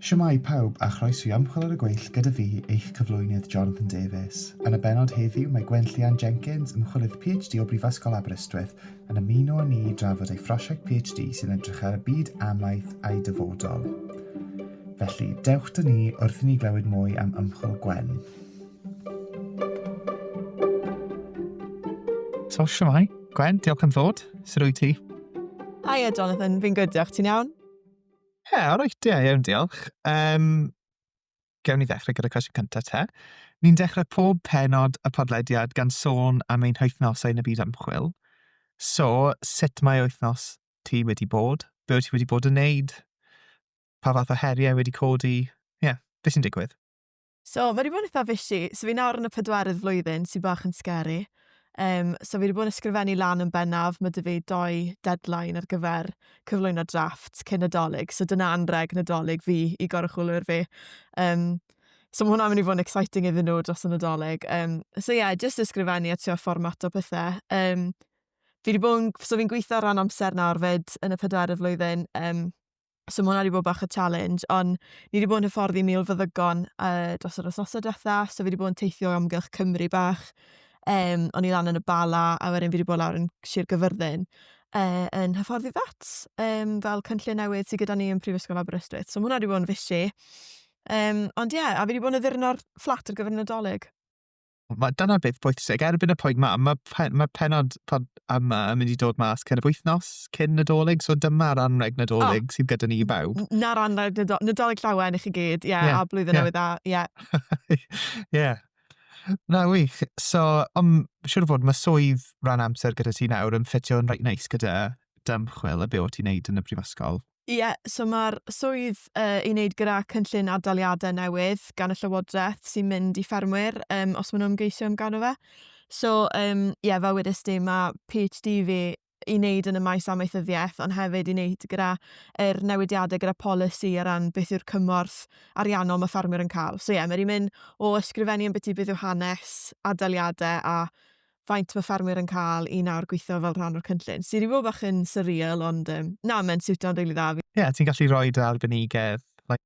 Shwmae pawb a chroeso i Ymchwil ar y Gweill gyda fi, eich cyflwynydd Jonathan Davies. Yn y bennod heddiw mae Gwen Llian Jenkins, ymchwilydd PhD o Brifysgol Aberystwyth, yn ymuno â ni i drafod ei phrosiect PhD sy'n edrych ar y byd amaeth a'i dyfodol. Felly, dewch 'da ni wrth i ni glywed mwy am ymchwil Gwen. So, siwmai. Gwen, diolch am ddod. Sut wyt ti? Hiya, Jonathan. Fi'n good, diolch. Ti'n iawn? Ie, yeah, alright, ie, yeah, iawn, diolch. Um, gewn ni ddechrau gyda cwestiwn cyntaf te. Ni'n dechrau pob penod y podlediad gan sôn am ein hythnosau yn y byd ymchwil. So, sut mae wythnos ti wedi bod? Be wyt ti wedi bod yn neud? Pa fath o heriau wedi codi? Ie, yeah, beth sy'n digwydd? So mae wedi bod yn eitha fishy. So fi nawr yn y pedwerydd flwyddyn sy'n bach yn scary. Um, so fi wedi bod yn ysgrifennu lan yn bennaf. Mae dy fi doi deadline ar gyfer cyflwyno drafft cyn nadolig. So dyna anreg nadolig fi i goruchwylwyr fi. Um, So mae hwnna'n mynd i fod yn exciting iddyn nhw dros y Nadolig. Um, so ie, yeah, jyst ysgrifennu a trio fformat o pethau. Um, fi wedi bod yn... So fi'n gweithio rhan amser nawr fyd yn y pedwerydd flwyddyn. Um, So mae hwnna wedi bod bach o challenge, ond ni wedi bod yn hyfforddi mil fyddygon uh, dros yr wythnosau diwetha, so fi wedi bod yn teithio am gylch Cymru bach. Um, o'n i lan yn y Bala, a wedyn fi wedi bod lawr yn Sir Gyfyrddin uh, yn hyfforddi vet, um, fel cynllun newydd sydd gyda ni yn Prifysgol Aberystwyth. So mae hwnna wedi bod yn fisi. Um, ond ie, yeah, a fi wedi bod yn addurno'r fflat ar gyfer y Nadolig. Mae dyna beth pwysig. Erbyn y pwynt ma, mae pe, ma pennod pod yma yn mynd i dod mas cyn y wythnos, cyn Nadolig, so dyma'r anreg Nadolig oh, sydd gyda ni i bawb. Na'r anreg Nadolig, Nadolig llawen i chi gyd, ie, yeah, yeah, a blwyddyn yeah. newydd dda, ie. Yeah. yeah. Na, wych. So, om, siwr fod mae swydd rhan amser gyda ti nawr yn ffitio'n reit neis gyda dymchwil a be o ti'n neud yn y brifysgol. Ie, so mae'r swydd uh, i wneud gyda cynllun adaliadau newydd gan y Llywodraeth sy'n mynd i ffermwyr um, os maen nhw'n ymgeisio amdano fe. So, um, ie, yeah, fel wedys ti, mae PhD fi i wneud yn y maes amaethyddiaeth, ond hefyd i wneud gyda er newidiadau gyda polisi ar ran beth yw'r cymorth ariannol mae ffermwyr yn cael. So ie, yeah, mae'n mynd o ysgrifennu yn beth i beth yw hanes, adaliadau a faint mae ffermwyr yn cael i nawr gweithio fel rhan o'r cynllun, sydd i fod bach yn surreal, ond um, na, mae'n siwtio'n rili dda. Ie, yeah, ti'n gallu rhoi dy arbenigedd. Like,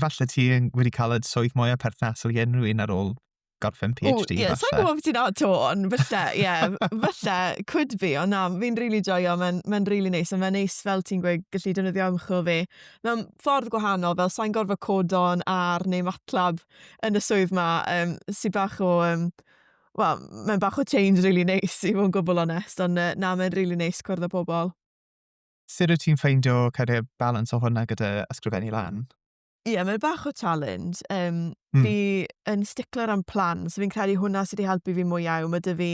falle ti wedi cael y swydd mwyaf perthnasol i unrhyw un ar ôl gorffen PhD. Ie, sa'n gwybod beth ti'n at to, ond falle, ie, yeah, falle, could be, ond na, fi'n rili really joio, mae'n ma rili really neis, ond mae'n neis fel ti'n gweud gallu defnyddio ymchwil fi. Mae'n ffordd gwahanol, fel sa'n gorfod codon ar neu matlab yn y swydd ma, um, sy'n bach o um, Wel, mae'n bach o change rili neis i fod yn gwbl onest, ond yy, na, mae'n rili neis cwrdd â pobl. Sut wyt ti'n ffeindio kind of balans o hwnna gyda ysgrifennu lan? Ie, yeah, mae'n bach o challenge. Um, mm. Fi yn stickler am plan, so fi'n credu hwnna sydd wedi helpu fi mwy iawn. Mae dy fi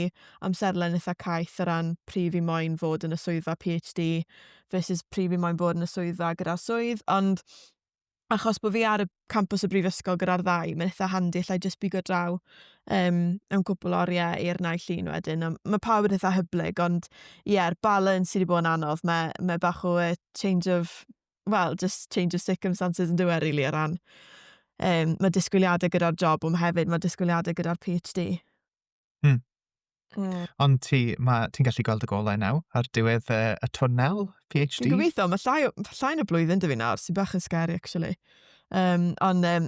amserlen eitha caeth o ran prif fi moyn fod yn y swyddfa PhD versus prif fi moyn bod yn y swyddfa gyda'r swydd, ond achos bod fi ar y campus y brifysgol gyda'r ddau, mae'n eitha handi, allai just bigo draw um, am cwpl oriau i'r nau llun wedyn. Mae pawb yn eitha hyblyg, ond ie, yeah, balance sydd wedi bod yn anodd. Mae, mae bach o uh, change of, well, just change of circumstances yn dweud, really, o ran. Um, mae disgwyliadau gyda'r job, ond hefyd mae disgwyliadau gyda'r PhD. Hmm. Mm. Ond ti, mae, ti'n gallu gweld y golau nawr ar diwedd uh, y twnnel PhD? Dwi'n gobeithio, mae llai, llai na blwyddyn dwi nawr, sy'n bach yn scary, actually. Um, ond, um,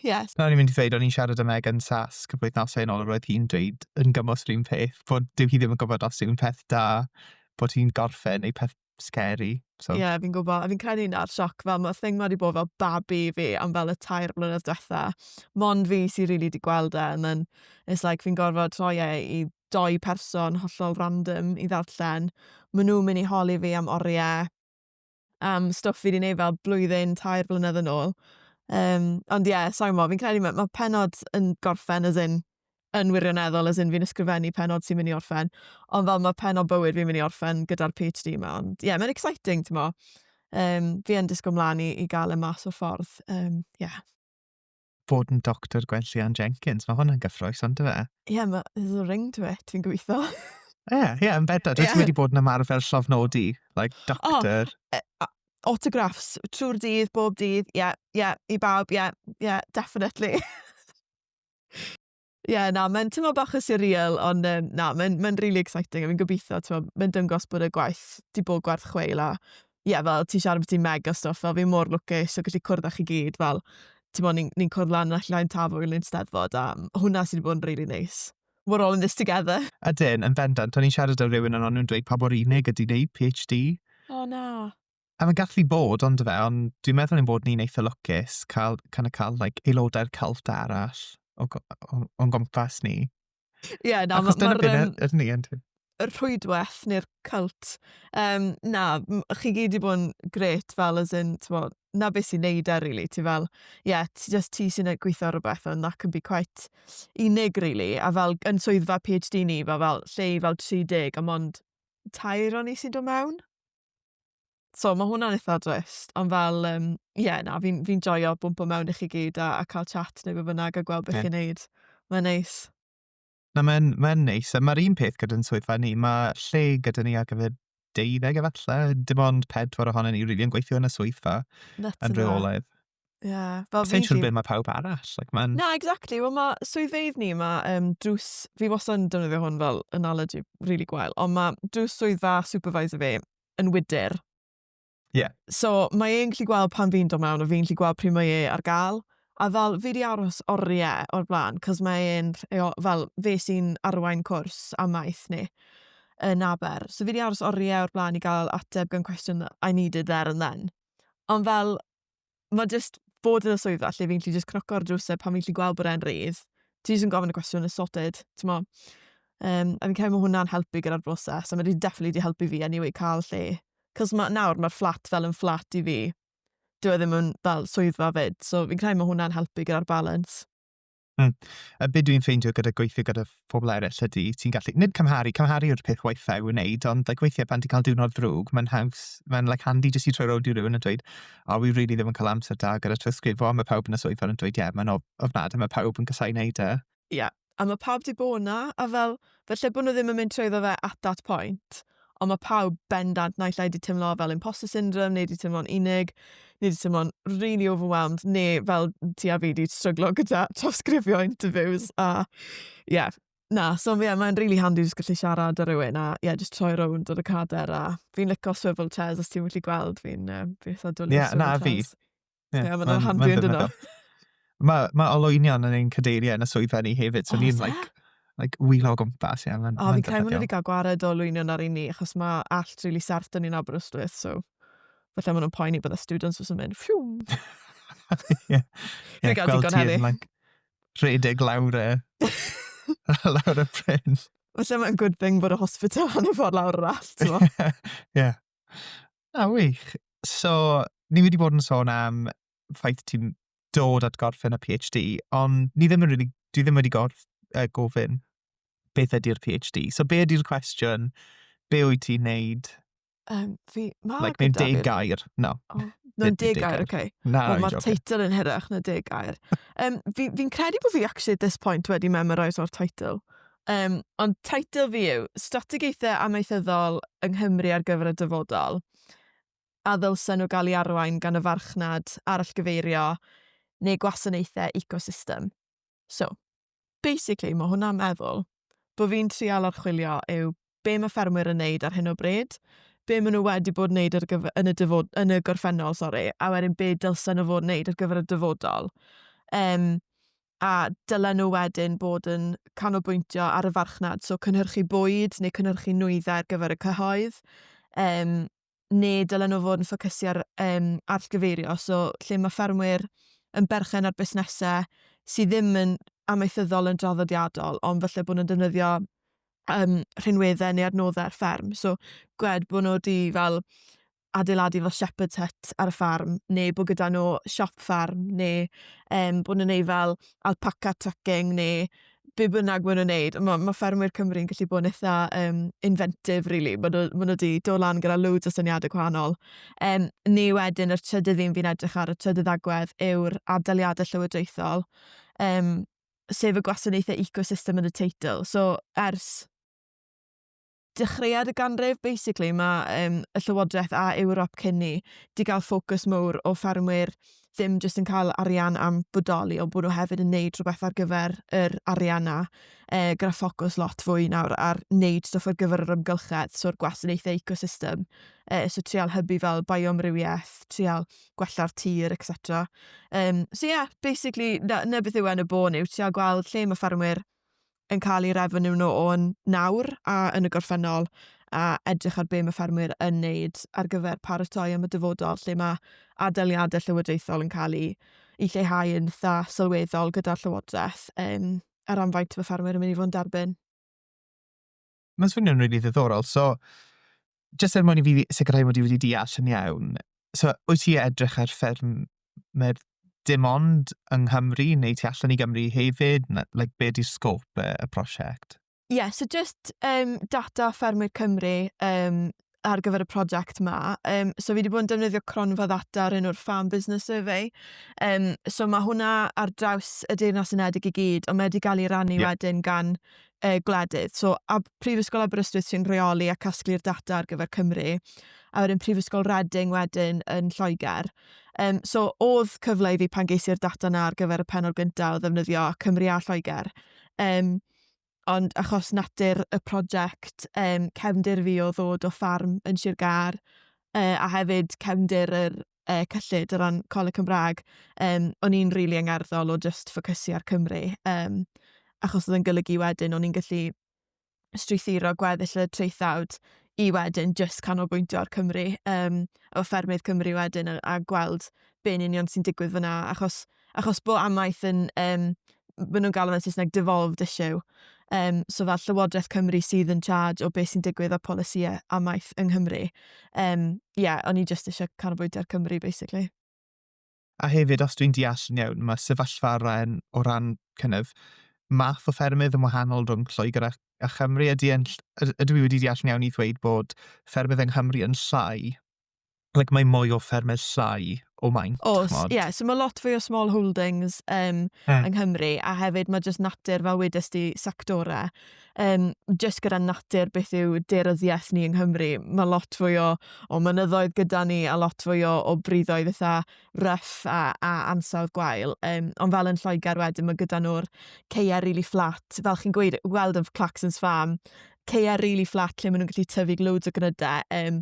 yes. Na, ni'n mynd i ddweud, o'n i'n siarad am Megan Sask y blwyddnosau yn ôl, roedd hi'n dweud yn gymwys rhywun peth, bod dyw hi ddim yn gwybod os yw'n peth da bod hi'n gorffen neu peth scary. So. Ie, yeah, fi'n gwybod. A fi'n credu na'r sioc fel, mae'r thing wedi bod fel babi fi am fel y tair blynedd diwetha. Mond fi sy'n rili really di gweld e, and then it's like fi'n gorfod troi e i doi person hollol random i ddarllen. Mae nhw'n mynd i holi fi am oriau, am stwff fi wedi gwneud fel blwyddyn, tair blynedd yn ôl. Um, ond ie, yeah, sorry mo, fi'n credu mae ma penod yn gorffen as in yn wirioneddol as in fi'n ysgrifennu pennod sy'n mynd i orffen ond fel mae pennod bywyd fi'n mynd i orffen gyda'r PhD yma ond ie yeah, mae'n exciting ti'n mo um, fi yn disgwyl mlaen i, i gael y e mas o'r ffordd um, yeah. bod yn doctor Gwenllian Jenkins mae hwnna'n gyffroes ond dweud? ie yeah, mae there's a ring to it fi'n gweithio ie yeah, ie yeah, yn beda dwi yeah. wedi bod yn ymarfer llofnodi like oh, doctor oh, uh, autographs trwy'r dydd bob dydd ie yeah, ie yeah, i bawb ie yeah, ie yeah, definitely yeah, na, mae'n tymo bach o surreal, ond um, na, mae'n ma really exciting, a fi'n gobeithio, tymo, mae'n dyngos bod y gwaith di bod gwerth chweil, a ie, yeah, fel ti siarad bod ti'n mega stuff, fel fi'n mor lwcus o gallu cwrdd â chi gyd, fel, tymo, ni'n ni, cwrdd lan allan llain tafwyl yn ein steddfod, a hwnna sydd wedi bod yn really nice. We're all in this together. A dyn, yn bendant, o'n i'n siarad â rhywun yn o'n nhw'n dweud pa bo'r unig ydy wneud PhD. O oh, na. A mae'n gallu bod, ond fe, ond dwi'n meddwl ein bod ni'n eitha lwcus cael, kind of cael like, aelodau'r cult arall o, o, o'n gwmpas ni. Ie, yeah, na, Achos dyna beth um, er, ni, ynddi. Y rhwydwaith neu'r cult. Um, na, chi gyd i bod yn gret fel as in, ti'n bod, na beth sy'n neud ar, e, really. Ti fel, ie, yeah, ti just ti sy'n gweithio ar rhywbeth and that can be quite unig, really. A fel, yn swyddfa PhD ni, fel, fel lle i fel 30 a mond tair o'n i sy'n dod mewn. so mae hwnna'n eitha drist, ond fel, um, ie, yeah, na, fi'n fi, joio bwmpo mewn i chi gyd a, a cael chat neu be bynnag a gweld beth yeah. chi'n neud. Mae'n neis. Na, mae'n ma neis. A mae'r un peth gyda'n swyddfa ni. Mae lle gyda ni ar gyfer deuddeg efallai, dim ond pedwar ohono ni rili yn gweithio yn y swyddfa yn rheolaidd. Yeah, fel Sa'n siŵr beth mae pawb arall. Like, man... Na, exactly. Wel, mae swyddfeydd ni, mae um, drws... Fi wastad yn defnyddio hwn fel analogy really gwael, ond mae drws swyddfa supervisor fi yn wydr. Yeah. So, mae e'n gallu gweld pan fi'n dod mewn, a fi'n gallu gweld pryd mae e ar gael. A fel, fi di aros oriau o'r blaen, cos mae e'n, fel, fe sy'n arwain cwrs am maeth ni yn Aber. So fi di aros oriau o'r blaen i gael ateb gan cwestiwn I needed there and then. Ond fel, mae jyst bod yn y swyddfa lle fi'n gallu jyst cnoco ar drwsau pan fi'n gallu gweld bod e'n rhydd. Ti jyst yn gofyn y cwestiwn, it's sorted, ti'n mo. Um, a fi'n cael bod hwnna'n helpu gyda'r broses, a mae wedi definitely wedi helpu fi anyway cael lle. Cos ma, nawr mae'r fflat fel yn fflat i fi. Dwi e ddim yn fel swyddfa fyd, so fi'n credu mae hwnna'n helpu gyda'r balance. Hmm. A beth dwi'n ffeindio gyda gweithio gyda phobl eraill ydy, ti'n gallu, nid cymharu, cymharu yw'r peth waethaf i'w wneud, ond like, weithiau pan ti'n cael diwrnod ddrwg, mae'n haws, mae'n like, handi jyst i troi rownd i rywun yn dweud, o, wi rili ddim yn cael amser da gyda trysgrifo, a mae pawb yn y swyddfa yn dweud, ie, yeah, mae'n ofnad, a mae pawb yn casau wneud e. Ie, yeah. a mae pawb di bod na, a fel, felly bod nhw ddim yn mynd trwyddo fe at that point. Ond mae pawb bendant naill ai 'di teimlo fel imposter syndrome neu 'di teimlo'n unig neu 'di teimlo'n really overwhelmed neu fel ti a fi 'di stryglo gyda trawsgrifio interviews a ie. Na, so ie mae'n rili handi jyst gallu siarad â rywun a ie jyst troi rownd ar y cader a fi'n lico swivel chairs os ti'n gallu gweld fi'n yym fi eitha dwli ar swivel chairs. Ie, na fi. Ie, yeah, mae'n handi yn dyna. Mae ma oloinion yn ein cadeiriau yn y swyddfa ni hefyd, so oh, ni'n like, like wheel o gwmpas. Yeah, ma, o, fi'n credu mwyn wedi cael gwared o lwynion ar un ni, achos mae allt really serth dyn ni'n Aberystwyth, so falle maen nhw'n poeni bod y students fysa'n mynd, ffiwm. Ie, gweld ti'n like, rhedeg lawr e, lawr y pren. Felly mae'n good thing bod y hospital yn y ffordd lawr yr allt. Ie, A wych! So, ni wedi bod yn sôn am ffaith ti'n dod at gorffen y PhD, ond ni ddim yn rili... dwi ddim wedi gorff- yy gofyn beth ydy'r PhD. So be ydy'r cwestiwn, be wyt ti'n wneud... Yym fi... ma' gyda fi... Like mewn deg gair. No. O mewn deg gair, ok. Na, fi'n jocan. Wel ma'r teitl yn hirach na deg gair. Yym fi fi'n credu bo' fi actually at this point wedi memorise o'r teitl. Um, ond teitl fi yw Strategaethau Amaethyddol yng Nghymru ar gyfer y dyfodol a ddylsen nhw gael ei arwain gan y farchnad arallgyfeirio neu gwasanaethau ecosystem. So, basically, mae hwnna'n meddwl bod fi'n trial archwilio yw be mae ffermwyr yn neud ar hyn o bryd, be maen nhw wedi bod yn neud ar gyfer, yn, y dyfod, yn y gorffennol, sori, a wedyn be dylsen nhw fod yn neud ar gyfer y dyfodol. Um, a dylen nhw wedyn bod yn canolbwyntio ar y farchnad, so cynhyrchu bwyd neu cynhyrchu nwyddau ar gyfer y cyhoedd, um, ne' dylen nhw fod yn ffocysu ar um, arllgyfeirio, so lle mae ffermwyr yn berchen ar busnesau sydd ddim yn amaethyddol yn draddodiadol, ond felly bod nhw'n defnyddio um, rhinweddau neu adnoddau ar fferm. So, gwed bod nhw wedi fel adeiladu fel shepherd's hut ar y ffarm, neu bod gyda nhw siop ffarm, neu um, bod nhw'n ei fel alpaca trucking, neu be bynnag maen nhw'n neud, mae ma ffermwyr Cymru yn gallu bod yn eitha um, inventive, really. Maen nhw, ma nhw wedi dod lan gyda loads o syniadau gwahanol. Um, neu wedyn, yr trydydd un fi'n edrych ar, y trydydd agwedd, yw'r adaliadau llywodraethol, um, sef y gwasanaethau ecosystem yn y teitl. So, ers dechreuad y ganrif basically mae um, y Llywodraeth a Ewrop cyn ni di gael ffocws mowr o ffermwyr ddim jyst yn cael arian am bodoli, ond bod nhw hefyd yn neud rhywbeth ar gyfer yr arian na, e, gyda ffocws lot fwy nawr ar neud stwff ar gyfer yr ymgylchedd, so'r gwasanaethau ecosystem, e, so trial hybu fel biomrywiaeth, trial gwella'r tir, etc. Um, so ie, yeah, basically, na, na beth yw e yn y bôn yw trial gweld lle mae ffermwyr yn cael eu refeniw nhw o'n nawr a yn y gorffennol, a edrych ar be mae ffermwyr yn wneud ar gyfer paratoi am y dyfodol lle mae adaliadau llywodraethol yn cael eu i lleihau yn dda sylweddol gyda'r llywodraeth um, ar amfaint mae ffermwyr yn mynd i fod yn derbyn. mae'n swnio'n rili ddiddorol. So, jyst er mwyn i fi sicrhau mod i wedi deall yn iawn, so, wyt ti edrych ar fferm mae'r dim ond yng Nghymru neu ti allan i Gymru hefyd? Na, like, be di'r sgôp y, y prosiect? Ie, yeah, so jyst um, data ffermwyr Cymru um, ar gyfer y prosiect ma. Um, so fi wedi bod yn defnyddio cronfa ddata ar un o'r Farm Business Survey. Um, so mae hwnna ar draws y Deyrnas Unedig i gyd, ond mae wedi cael ei rannu yeah. wedyn gan uh, gwledydd. So a Prifysgol Aberystwyth sy'n rheoli a casglu'r data ar gyfer Cymru, a wedyn Prifysgol Reading wedyn yn Lloegr. Um, so oedd cyfle i fi pan geisiau'r data na ar gyfer y penol gyntaf o ddefnyddio Cymru a Lloegr. Um, ond achos natur y prosiect, um, cefndir fi o ddod o ffarm yn Sir Gar, uh, a hefyd cefndir yr uh, cyllid o ran Coleg Cymraeg, um, o'n i'n rili really angerddol o just ffocysu ar Cymru, um, achos oedd yn golygu wedyn o'n i'n gallu strwythuro gweddill y traethawd i wedyn just canolbwyntio ar Cymru, um, o ffermydd Cymru wedyn a, a gweld be'n union sy'n digwydd fyna, achos achos bod amaeth yn, um, maen nhw'n galw fe'n Saesneg devolved issue, um, so fel Llywodraeth Cymru sydd yn charge o beth sy'n digwydd â polisïau amaeth yng Nghymru. Um, yeah, o'n i just eisiau canolbwyntio ar Cymru, basically. A hefyd, os dwi'n deall yn iawn, mae sefyllfa rhan o ran kind of, math o ffermydd yn wahanol rhwng Lloegr a, a Chymru. Ydy, yn, ydw i wedi deall yn iawn i ddweud bod ffermydd yng Nghymru yn llai like, mae mwy o ffermau llai o maint. Os, ie. Yeah, so mae lot fwy o small holdings um, mm. yng Nghymru, a hefyd mae jyst natur, fel wedys di, sectorau, um, jyst gyda natur beth yw deryddiaeth ni yng Nghymru, mae lot fwy o, o mynyddoedd gyda ni, a lot fwy o, o briddoedd eitha rough a, a ansawdd gwael. Um, ond fel yn Lloegr wedyn, mae gyda nhw'r ceia really flat, fel chi'n gweud, weld yn Claxons Farm, ceia really flat lle maen nhw'n gallu tyfu loads o gnydau, um,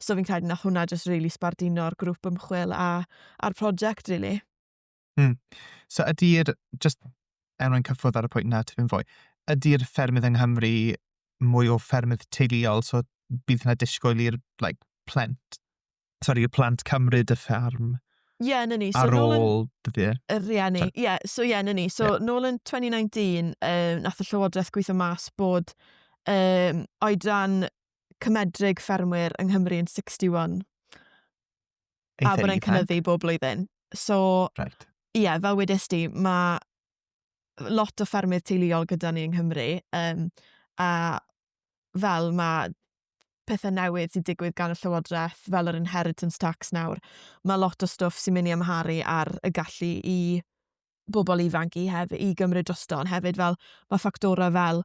So fi'n credu nath hwnna just really sbardino'r grŵp ymchwil a, a'r prosiect, really. Hmm. So ydy'r, just er mwyn cyffwrdd ar y pwynt na tipyn fwy, ydy'r ffermydd yng Nghymru mwy o ffermydd teuluol, so bydd yna disgwyl i'r like, plent, sorry, y plant cymryd y fferm Ie, yeah, na ni. So, ar ôl dyddi? Y rieni. Ie, yeah, so ie, yeah, na ni. So, yeah. nôl yn 2019, um, nath y Llywodraeth gweithio mas bod um, oedran cymedrig ffermwyr yng Nghymru yn 61. Ei a bod e'n cynyddu bob blwyddyn. So, right. yeah, fel wedys di, mae lot o ffermydd teuluol gyda ni yng Nghymru, um, a fel mae pethau newydd sy'n digwydd gan y Llywodraeth, fel yr inheritance tax nawr, mae lot o stwff sy'n mynd i amharu ar y gallu i bobl ifanc i hef- i gymryd drosto, ond hefyd fel mae ffactorau fel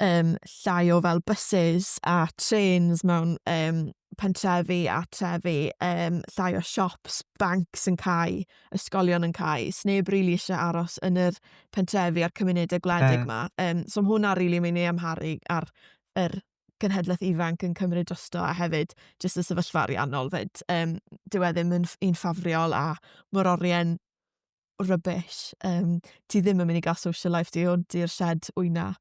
um, llai o fel buses a trains mewn um, pentrefi a trefi, um, llai o siops, bancs yn cael, ysgolion yn cael. Sneb rili really eisiau aros yn yr pentrefi a'r cymunedau gwledig yma. Yeah. Um, so mae hwnna rili really mynd i amharu ar yr genhedlaeth ifanc yn cymryd drosto a hefyd jyst y sefyllfa ariannol fyd. Um, dyw e ddim yn un ffafriol a mor orien rubbish. Um, ti ddim yn mynd i gael social life di, ond di'r shed wyna,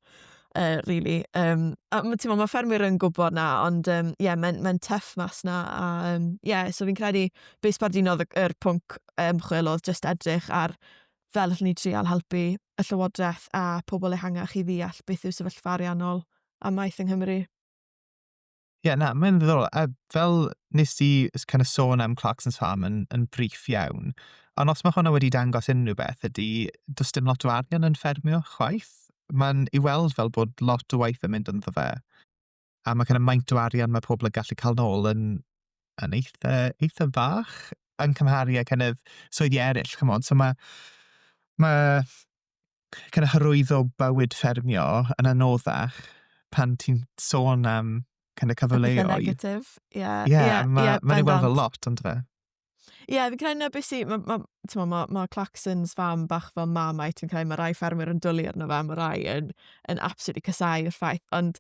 uh, really. Um, a ti'n meddwl, mae ffermwyr yn gwybod na, ond um, yeah, mae'n mae tuff mas na. A, um, yeah, so fi'n credu, be sbardinodd y, yr pwnc ymchwil oedd just edrych ar fel allwn ni trial helpu y Llywodraeth a pobl ehangach i ddeall beth yw sefyllfa ariannol amaeth yng Nghymru. Ie, na, mae'n ddiddorol. A fel nes di s- kind of sôn am Clarkson's Farm yn, yn briff iawn, ond os mae hwnna wedi dangos unrhyw beth ydy, does dim lot o arian yn ffermio chwaith. Mae'n i weld fel bod lot o waith yn mynd ynddo fe, a mae kind of maint o arian mae pobl yn gallu cael nôl yn, yn eitha, eitha fach yn cymharu â kind of swyddi eraill, chymod. So mae, mae kind of hyrwyddo bywyd ffermio yn anoddach pan ti'n sôn am kind of cyfleoedd. negatif, ie. Yeah. Ie, yeah, yeah, mae'n yeah, ma ei weld fel lot, ond fe. Ie, yeah, fi'n credu na beth sy'n... Mae ma, ma, ma Claxons fam bach fel mamau, ti'n credu mae rai ffermwyr yn dwlu arno fe, mae rai yn, yn absolutely casau i'r ffaith, ond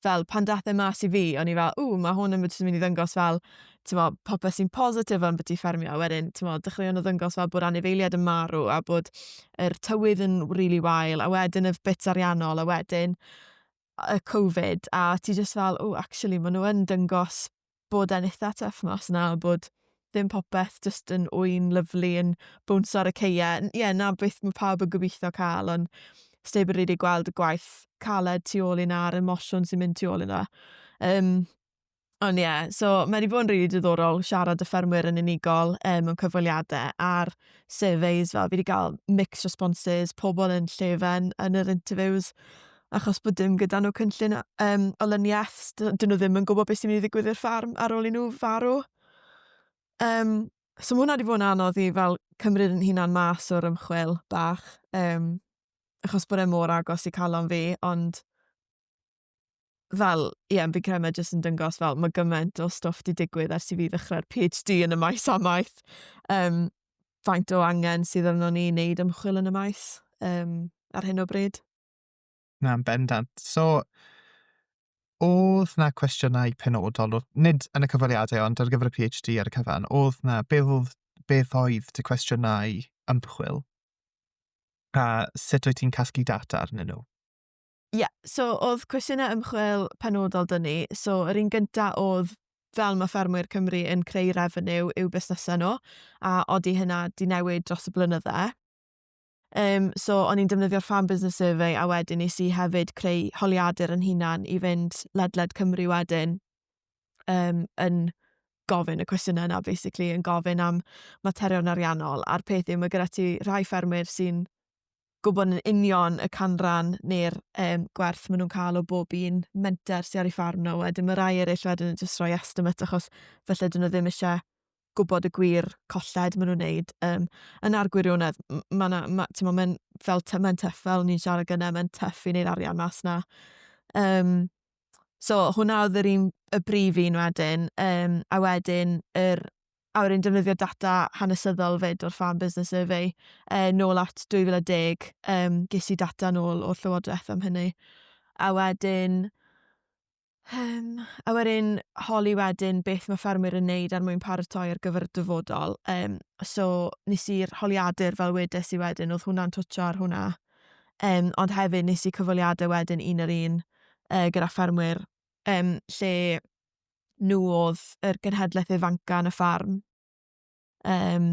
fel pan dath e mas i fi o'n i fel ww ma' hwn yn mynd i ddangos fel t'mo' popeth sy'n positif am byti ffermio a wedyn t'mo' dechreuon nhw ddangos fel bod anifeiliaid yn marw a bod yr tywydd yn rili wael a wedyn y bits ariannol a wedyn y covid a ti jyst fel ww actually ma' n'w yn dangos bod e'n eitha tuff mas yna a bod ddim popeth jyst yn ŵyn lyfli yn bwns ar y ceie. Ie, yeah, na beth mae pawb yn gobeithio cael, ond steb yn rili gweld y gwaith caled tu ôl i na a'r emosiwn sy'n mynd tu ôl i na. Um, ond ie, yeah, so mae wedi bod yn rili diddorol siarad y ffermwyr yn unigol um, mewn cyfweliadau a'r surveys fel fi wedi cael mixed responses, pobl yn llefen yn yr interviews achos bod dim gyda nhw cynllun um, olyniaeth, dyn nhw ddim yn gwybod beth sy'n mynd i ddigwydd i'r ffarm ar ôl i nhw farw. Um, so mae hwnna wedi bod yn anodd i fel cymryd yn hunan mas o'r ymchwil bach, um, achos bod e mor agos i calon fi, ond fel, ie, yeah, fi'n credu mae jyst yn dyngos fel mae gymaint o stwff wedi digwydd ers i fi ddechrau'r PhD yn y maes amaeth. Um, faint o angen sydd arno ni wneud ymchwil yn y maes um, ar hyn o bryd. Na, yn bendant. So, oedd 'na cwestiynau penodol, o- nid yn y cyfweliadau ond ar gyfer y PhD ar y cyfan, oedd 'na, beth oedd, beth oedd dy cwestiynau ymchwil? A sut wyt ti'n casglu data arnyn nhw? Ie, so oedd cwestiynau ymchwil penodol 'da ni, so yr un gynta oedd fel mae ffermwyr Cymru yn creu refeniw i'w busnesau nhw, a odi hynna 'di newid dros y blynydde. Um, so o'n i'n defnyddio'r Farm Business Survey a wedyn nes i hefyd creu holiadur yn hunan i fynd ledled Cymru wedyn um, yn gofyn y cwestiynau yna, basically, yn gofyn am materion ariannol. A'r peth yw, mae gyda ti rhai ffermwyr sy'n gwybod yn union y canran neu'r um, gwerth maen nhw'n cael o bob un menter sy'n ar ei ffarm nhw. Wedyn mae rai eraill wedyn yn jyst rhoi estimate achos felly dyn nhw ddim eisiau gwybod y gwir colled maen nhw'n wneud. Um, yn ar gwirionedd, mae yna, ma, ti'n meddwl, mae'n fel, mae'n tuff fel ni'n siarad gyda, mae'n tuff i wneud arian mas na. Um, so, hwnna oedd yr un, y brif un wedyn, um, a wedyn, yr, a wedyn defnyddio data hanesyddol fyd o'r Farm Business Survey, uh, nôl at 2010, um, ges i data nôl o'r Llywodraeth am hynny. A wedyn, Um, a wedyn holi wedyn beth mae ffermwyr yn neud ar er mwyn paratoi ar gyfer y dyfodol. Um, so nes i'r holiadur fel wedes i wedyn, oedd hwnna'n twtio ar hwnna. Um, ond hefyd nes i cyfweliadau wedyn un ar un uh, gyda ffermwyr um, lle nhw oedd yr genhedlaeth ifanca yn y ffarm. um,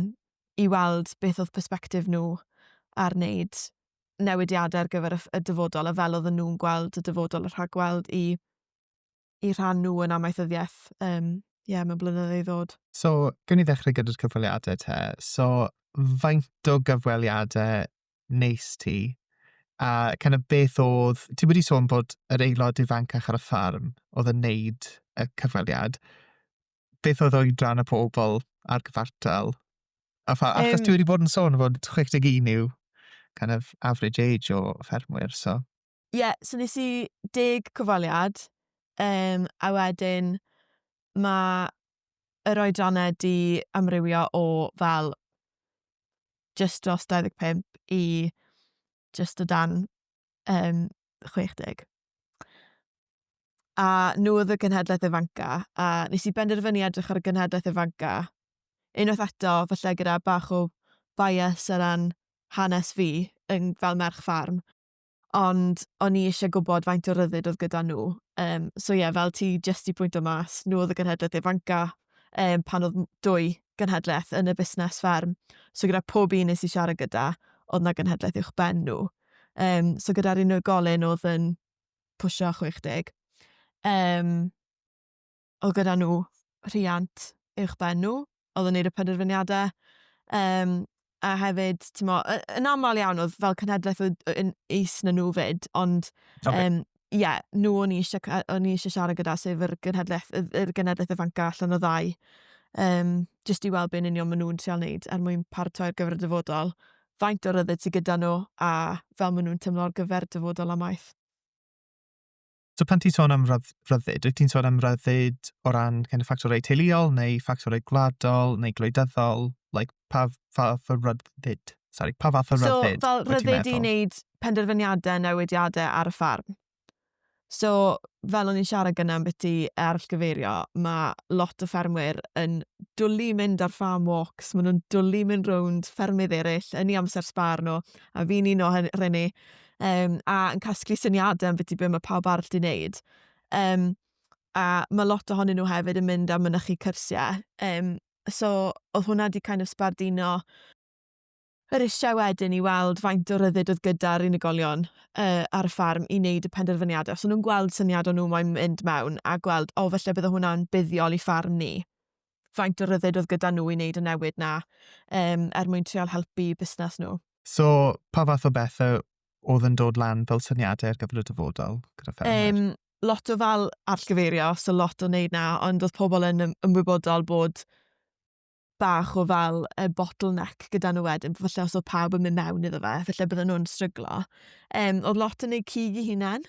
i weld beth oedd perspektif nhw ar wneud newidiadau ar gyfer y dyfodol a fel oedden nhw'n gweld y dyfodol a rhagweld i, i rhan nhw yn amaethyddiaeth um, yeah, mewn blynyddoedd i ddod. So, gwn i ddechrau gyda'r cyfweliadau te. So, faint o gyfweliadau neis ti? A kind of beth oedd... Ti wedi sôn bod yr aelod ifancach ar y ffarm oedd yn neud y cyfweliad. beth oedd oedran y pobl ar gyfartal? A pha, achos um, ti wedi bod yn sôn fod 61 yw kind of average age o ffermwyr, so... Ie, yeah, so nes i deg cyfaliad, um, a wedyn mae yr oedrannau di amrywio o fel just dros 25 i just o dan um, 60. A nhw oedd y genhedlaeth ifanca, a nes i benderfynu edrych ar y genhedlaeth ifanca, unwaith eto, falle gyda bach o bias ar ran hanes fi yn, fel merch ffarm, ond o'n i eisiau gwybod faint o ryddid oedd gyda nhw. Um, so ie, yeah, fel ti jyst i pwynt o mas, nhw oedd y genhedlaeth ifanca um, pan oedd dwy genhedlaeth yn y busnes fferm. So gyda pob un nes i siarad gyda, oedd na genhedlaeth uwch ben nhw. Um, so gyda'r unigolyn oedd yn pwysio 60. Um, o gyda nhw rhiant uwch ben nhw, oedd yn neud y penderfyniadau. Um, a hefyd, ti'n mo, yn aml iawn oedd fel cenhedlaeth oedd yn is na nhw fyd, ond okay. um, ie, nhw o'n i eisiau, ca- o'n i eisiau siarad gyda, sef yr genhedlaeth, yr yr genedlaeth ifancaf allan o ddau, um, jyst i weld be'n union maen nhw'n trial wneud er mwyn paratoi ar gyfer y dyfodol, faint o ryddid sydd gyda nhw a fel maen nhw'n tymlo ar gyfer y dyfodol amaeth. So pan ti'n sôn am rydd- ryddid, wyt ti'n sôn am ryddid o ran kind of ffactorau teuluol neu ffactorau gwladol neu gwleidyddol? Like, pa fath o ryddid? Sorry, pa fath o ryddid? So, fel ryddid i wneud penderfyniadau newidiadau ar y ffarm. So, fel o'n i'n siarad gyda am beth i arallgyfeirio, mae lot o ffermwyr yn dwlu mynd ar farm walks, maen nhw'n dwlu mynd rownd ffermydd eraill yn ei amser sbar nhw, a fi'n un o hynny, um, a yn casglu syniadau am beth i beth mae pawb arall di wneud. Um, a mae lot ohonyn nhw hefyd yn mynd am mynychu cyrsiau, um, So, oedd hwnna di kind of sbardino yr eisiau wedyn i weld faint o ryddid oedd gyda'r unigolion uh, ar y ffarm i wneud y penderfyniadau. Os so, nhw'n gweld syniad o'n nhw mae'n mynd mewn a gweld, o, felly bydde hwnna'n buddiol i ffarm ni. Faint o ryddid oedd gyda nhw i wneud y newid na um, er mwyn treol helpu busnes nhw. So, pa fath o bethau oedd yn dod lan fel syniadau ar gyfer y dyfodol gyda ffermwyr? Um, lot o fel atgyfeirio, so lot o wneud na, ond oedd pobl yn ymwybodol bod bach o fel y bottleneck gyda nhw wedyn, falle os oedd pawb yn mynd mewn iddo fe, falle bydden nhw'n stryglo. Um, oedd lot yn ei cig i hunan,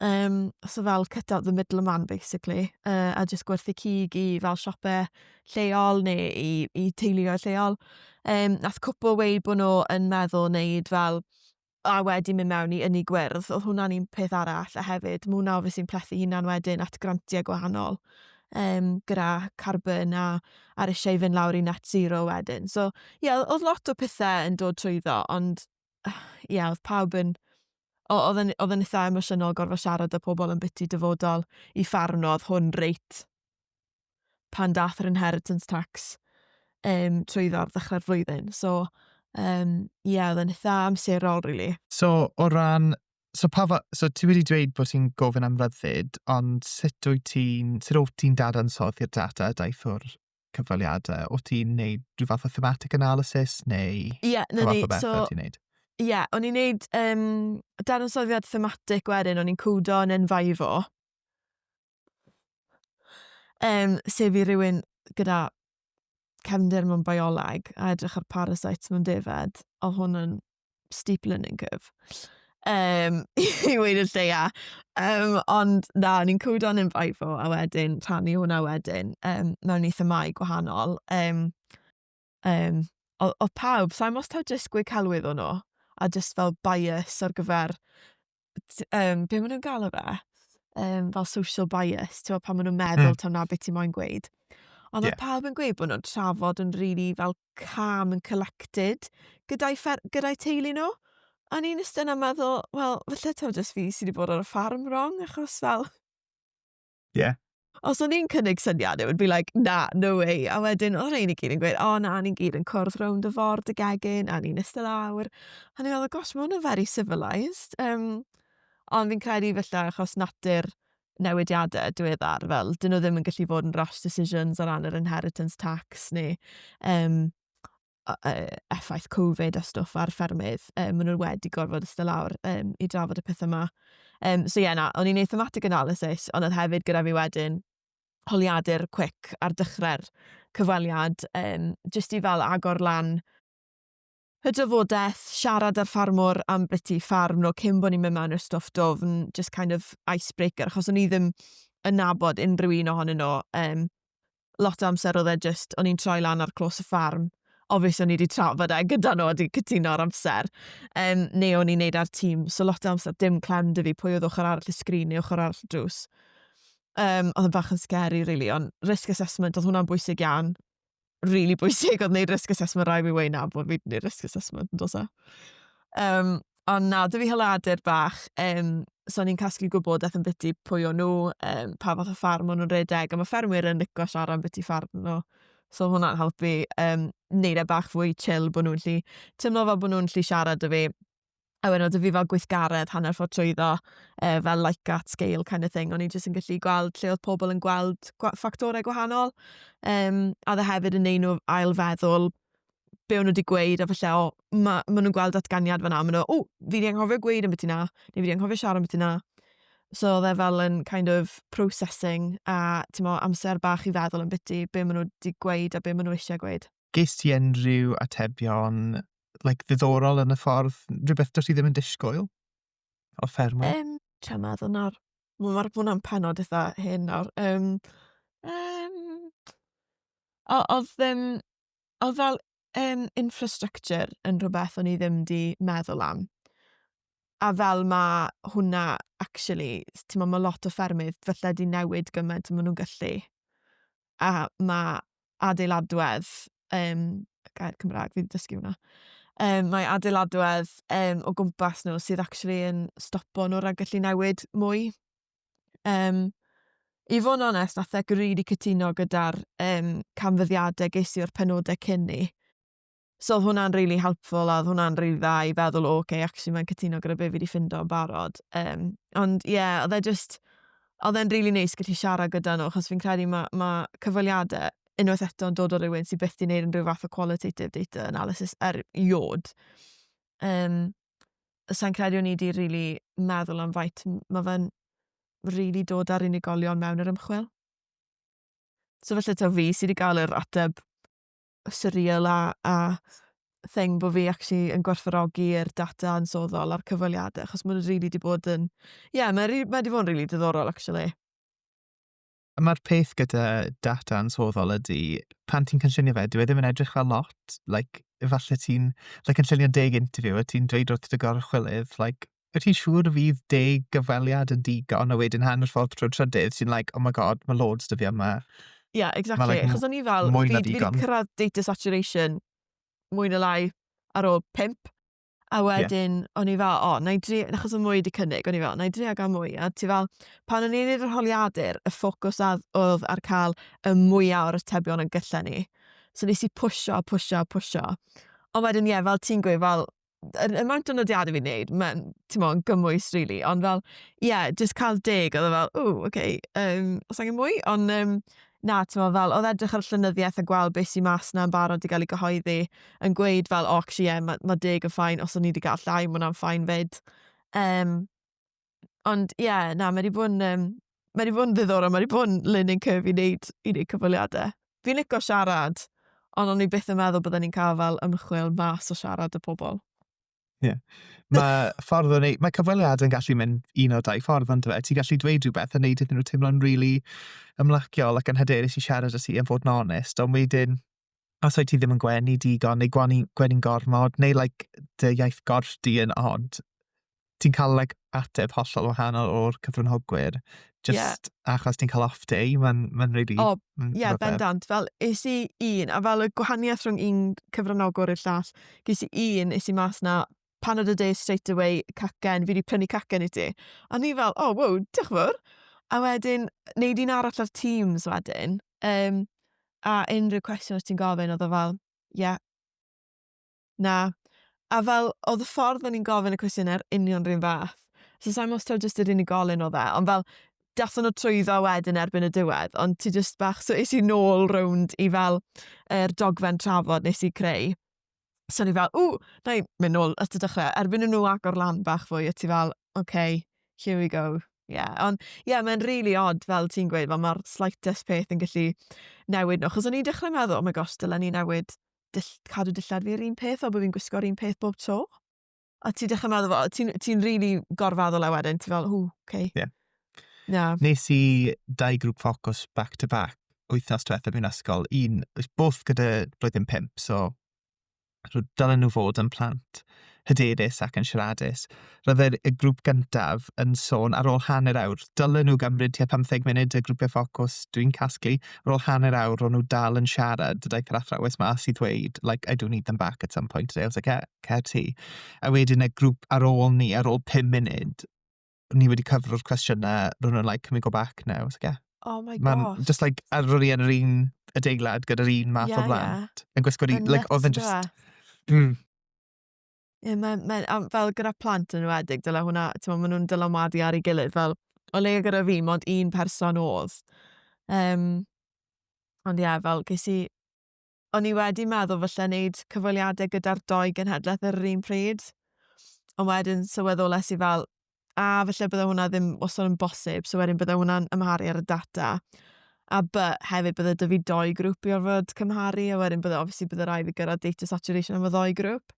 um, so fel cut out the middle man basically, uh, a jyst gwerthu cig i fel siopau lleol neu i, i teuluoedd lleol. Um, nath cwpl weid bod nhw yn meddwl wneud fel a wedyn mynd mewn i ynni gwyrdd, oedd hwnna'n un peth arall, a hefyd mae hwnna obviously yn plethu hunan wedyn at grantiau gwahanol um, gyda carbon a ar eisiau fynd lawr i net zero wedyn. So, ie, yeah, oedd lot o pethau yn dod trwy ddo, ond ie, yeah, oedd pawb yn... Oedd yn, oedd yn eitha emosiynol gorfod siarad â pobl yn biti dyfodol i ffarwnodd hwn reit pan dath yr inheritance tax um, trwyddo ar ddechrau'r flwyddyn. So, um, yeah, oedd yn eitha amserol, really. So, o ran... So, pa fa... so ti wedi dweud bod ti'n gofyn am ryddid, ond sut wyt ti'n... Sut wyt ti'n dadansoddi'r data a daethwr cyfweliadau? O ti'n neud rhyw fath o thematic analysis neu... Ie, yeah, na ni. So, Ie, yeah, o'n i'n neud um, dadansoddiad thematic wedyn, o'n i'n cwdo yn enfaifo. Um, sef i rywun gyda cefndir mewn bioleg a edrych ar parasites mewn defed, o hwn yn steep learning curve. Um, I weid y lleia. Um, ond na, ni'n cwyd o'n yn faifo a wedyn rhannu hwnna wedyn um, mewn i themau gwahanol. Um, Um, o, o pawb, sa'n mos taw jyst gwe celwydd o'n o, a jyst fel bias ar gyfer, um, be maen nhw'n gael o fe? Um, fel social bias, ti'n pan maen nhw'n meddwl mm. taw na beth ti'n moyn gweud. Ond yeah. oedd pawb yn gweud bod nhw'n trafod yn rili really fel calm and collected gyda'i, fer, gyda teulu nhw. A ni'n ystod yn meddwl, wel, felly taw jyst fi sydd wedi bod ar y ffarm wrong, achos fel, Ie. Os o'n i'n cynnig syniad, it would be like, na, no way. A wedyn, o rhein i gyd yn gweud, o na, ni'n gyd yn cwrdd rownd y ford y gegin, a ni'n ystod awr. A ni'n meddwl, gosh, mae hwnna'n very civilised. Um, ond fi'n credu felly achos natur newidiadau diweddar, fel, dyn nhw ddim yn gallu fod yn rash decisions ar ran yr inheritance tax neu um, effaith Covid a stwff ar ffermydd, um, maen nhw wedi gorfod ystod lawr um, i drafod y pethau yma. Um, so ie, yeah, na, o'n i'n ei thematic analysis, ond oedd hefyd gyda fi wedyn holiadur cwic ar dechrau'r cyfweliad, um, jyst i fel agor lan y dyfodaeth, siarad â'r ffarmwr am beth i ffarm nhw cyn bod ni'n mynd mewn i'r stwff dofn, just kind of icebreaker, achos o'n i ddim yn nabod unrhyw un ohonyn nhw. Um, lot o amser oedd e jyst, o'n i'n troi lan ar clos y ffarm, obvious o'n i wedi trafod e gyda nhw a wedi cytuno ar amser, um, neu o'n i'n neud ar tîm, so lot o amser dim clem dy fi pwy oedd ochr arall y sgrin neu ochr arall y drws. Um, oedd yn bach yn scary, really, ond risk assessment, oedd hwnna'n bwysig iawn. Really bwysig oedd wneud risk assessment, rai fi wein na bod fi wedi gwneud risk assessment, yn dos e. Um, Ond na, dwi fel adur bach, um, so ni'n casglu gwybodaeth yn biti pwy o nhw, um, pa fath o ffarm o'n nhw'n redeg, a mae ffermwyr yn licio siarad am biti ffarm nhw. So hwnna'n helpu um, neud e bach fwy chill bod nhw'n lli teimlo fel bod nhw'n lli siarad y fi. A wedyn oedd fi fel gweithgaredd hanner ffordd trwyddo, e, fel like at scale kind of thing. O'n i jyst yn gallu gweld lle oedd pobl yn gweld ffactorau gwahanol. Um, a dde hefyd yn neud nhw ail feddwl be o'n nhw wedi gweud, a falle, o, ma, ma nhw'n gweld datganiad fanna, ma nhw, o, fi wedi anghofio gweud am beth yna, neu fi wedi anghofio siarad am beth yna. So oedd e fel yn kind of processing a mo, amser bach i feddwl yn biti be maen nhw wedi gweud a be maen nhw eisiau gweud. Ges ti unrhyw atebion like, ddiddorol yn y ffordd, rhywbeth dros i ddim yn disgwyl o ffermwyr? Um, Tra meddwl nawr. Mae'r hwnna'n penod eitha hyn nawr. Um, um, oedd ddim... Oedd fel um, infrastructure yn rhywbeth o'n i ddim di meddwl am. A fel mae hwnna, actually, ti'n meddwl, mae lot o ffermydd felly di newid gymaint maen nhw'n gallu. A mae adeiladwedd, um, gair Cymraeg, fi wedi dysgu hwnna. Um, mae adeiladwedd um, o gwmpas nhw sydd actually yn stopo nhw rhag gallu newid mwy. Yym, i fod yn onest, nath Eco rili cytuno gyda'r um, canfyddiadau ges i o'r penodau cyn ni. So oedd hwnna'n rili really helpful a oedd hwnna'n rili really dda i feddwl, o, oh, okay, actually mae'n cytuno gyda be fi wedi ffindo yn barod. Um, ond ie, yeah, oedd e just, oedd e'n rili really neis gallu siarad gyda nhw, achos fi'n credu mae ma cyfweliadau unwaith eto yn dod o rywun sy'n byth di wneud unrhyw fath o qualitative data analysis er iod. Um, sa'n credu o'n i wedi rili meddwl am faint mae fe'n rili dod â'r unigolion mewn yr ymchwil. So felly ta fi sydd wedi gael yr ateb surreal a, a thing bod fi actually yn gwerthfarogi yr data yn soddol a'r cyfweliadau, achos mae'n rili wedi bod yn... Ie, yeah, mae wedi bod yn rili diddorol, actually. A mae'r peth gyda data ansoddol ydy, pan ti'n cynllunio fe, dyw e ddim yn edrych fel lot. Like, efallai ti'n like, cynllunio deg interview a ti'n dweud wrth dy gorchwylydd, like, wyt ti'n siŵr y fydd deg gyfweliad yn digon? A wedyn hanner ffordd trwy'r trydydd, ti'n like, oh my god, mae loads dy fi yma. Ie, yeah, exactly. Like, Chos o'n i fel, fi wedi cyrraedd data saturation mwy na lai ar ôl pimp. A Ie. wedyn o'n i fel o nâi dri- achos odd mwy 'di cynnig o'n i fel nâi drio ga'l mwy a ti fel pan o'n i'n neud yr holiadur y ffocws add- odd ar ca'l y mwya o'r atebion yn gylla ni. So nes i pwsho a pwsho a pwsho. Ond wedyn ie fel ti'n gweud fel yr amount o nodiade fi'n neud ma'n t'mo' yn gymwys rili ond fel ie jyst ca'l deg odd e fel ww oce yym o's angen mwy? On' yym na t'mo' fel odd edrych ar llenyddiaeth a gweld be' sy mas 'na yn barod i ga'l 'i gyhoeddi yn gweud fel o actually ie ma' ma' deg yn fine os o'n i 'di ga'l llai ma' wnna'n fine 'fyd. Yym ond ie na ma' 'di bo' yn yym ma' 'di bo' yn ddiddorol ma' 'di bo' yn learning curve i neud i neud cyfweliade. Fi'n lico siarad on' o'n i byth yn meddwl bydden i'n ca'l fel ymchwil mas o siarad 'da pobol. Ie. Mae ffordd o'n ei... Mae cyfweliad yn gallu mynd un o dau ffordd ond fe. Ti'n gallu dweud rhywbeth a wneud iddyn nhw teimlo'n rili ymlaciol ac yn hyderus i siarad â ti a fod yn onest. Ond wedyn, os wyt ti ddim yn gwenu digon neu gwenu, gwenu'n gormod neu like, dy iaith gorff di yn od, ti'n cael like, ateb hollol wahanol o'r cyfrynhogwyr. Just yeah. achos ti'n cael off day, mae'n ma really... O, oh, ie, yeah, bendant. Fel, is i un, a fel y gwahaniaeth rhwng un cyfranogwr i'r llall, ges i un, is i mas na, pan oedd y day straight away, cacen, fi wedi prynu cacen i ti. A ni fel, oh, wow, diolch fawr. A wedyn, neud un arall ar Teams wedyn, um, a unrhyw cwestiwn os ti'n gofyn, oedd o fel, ie, yeah, Na. A fel, oedd y ffordd o'n i'n gofyn y cwestiynau yr union rhywun fath. So sa'n gwybod os taw jyst yr unigolyn oedd e, ond fel, dathon nhw trwyddo wedyn erbyn y diwedd, ond ti jyst bach, so es i nôl rownd i fel yr dogfen trafod nes i creu. So ni fel, ww, na i mynd nôl at y dechrau. Erbyn nhw agor lan bach fwy, o ti fel, oce, okay, here we go. Yeah. Ond ie, yeah, mae'n really odd fel ti'n gweud, fel mae'r slightest peth yn gallu newid nhw. Chos o'n i'n dechrau meddwl, oh my gosh, dylen ni newid dill, cadw dillad fi'r un peth, fel bod fi'n gwisgo'r un peth bob tro. A ti dechrau meddwl, fel, ti'n ti really gorfaddol e wedyn, ti fel, hw, okay. Yeah. Na. Nes i dau grŵp ffocws back to back wythnos diwetha mewn ysgol. Un, both gyda blwyddyn pimp, so dylen nhw fod yn plant. hyderus ac yn siaradus. Roedd yr, y grŵp gyntaf yn sôn ar ôl hanner awr, dylen nhw gymryd tua 15 munud y grwpiau ffocws, dwi'n casglu, ar ôl hanner awr ro'n nhw dal yn siarad, daeth yr athrawes mas i ddweud, like, I do need them back at some point today, I was like, yeah, cer ti. A wedyn y grŵp ar ôl ni, ar ôl 5 munud, ni wedi cyfro'r cwestiynau, ro'n nhw'n like, can we go back now? I was like, yeah. Oh my Man, gosh. Just like, a ro'n i yn yr un adeilad gyda'r un math yeah, o blant. Yeah. Yn gwisgo'r un, like, oedd yn just... Mm. Ie, yeah, mae'n, ma, fel gyda plant yn wedig, dyla hwnna, ti'n meddwl, maen nhw'n dylanwadu ar ei gilydd, fel, o leia gyda fi, mond un person oedd. Um, ond ie, yeah, fel, ges i O'n i wedi meddwl falle wneud cyfweliadau gyda'r doi genhedlaeth yr un pryd. Ond wedyn sylweddolais i fel, a falle bydde hwnna ddim wastad yn bosib, so wedyn bydde hwnna'n ymharu ar y data. A by, hefyd bydde dy fi doi grŵp i orfod cymharu, a wedyn bydde obviously bydde rai fi gyrraedd data saturation am y ddoi grŵp.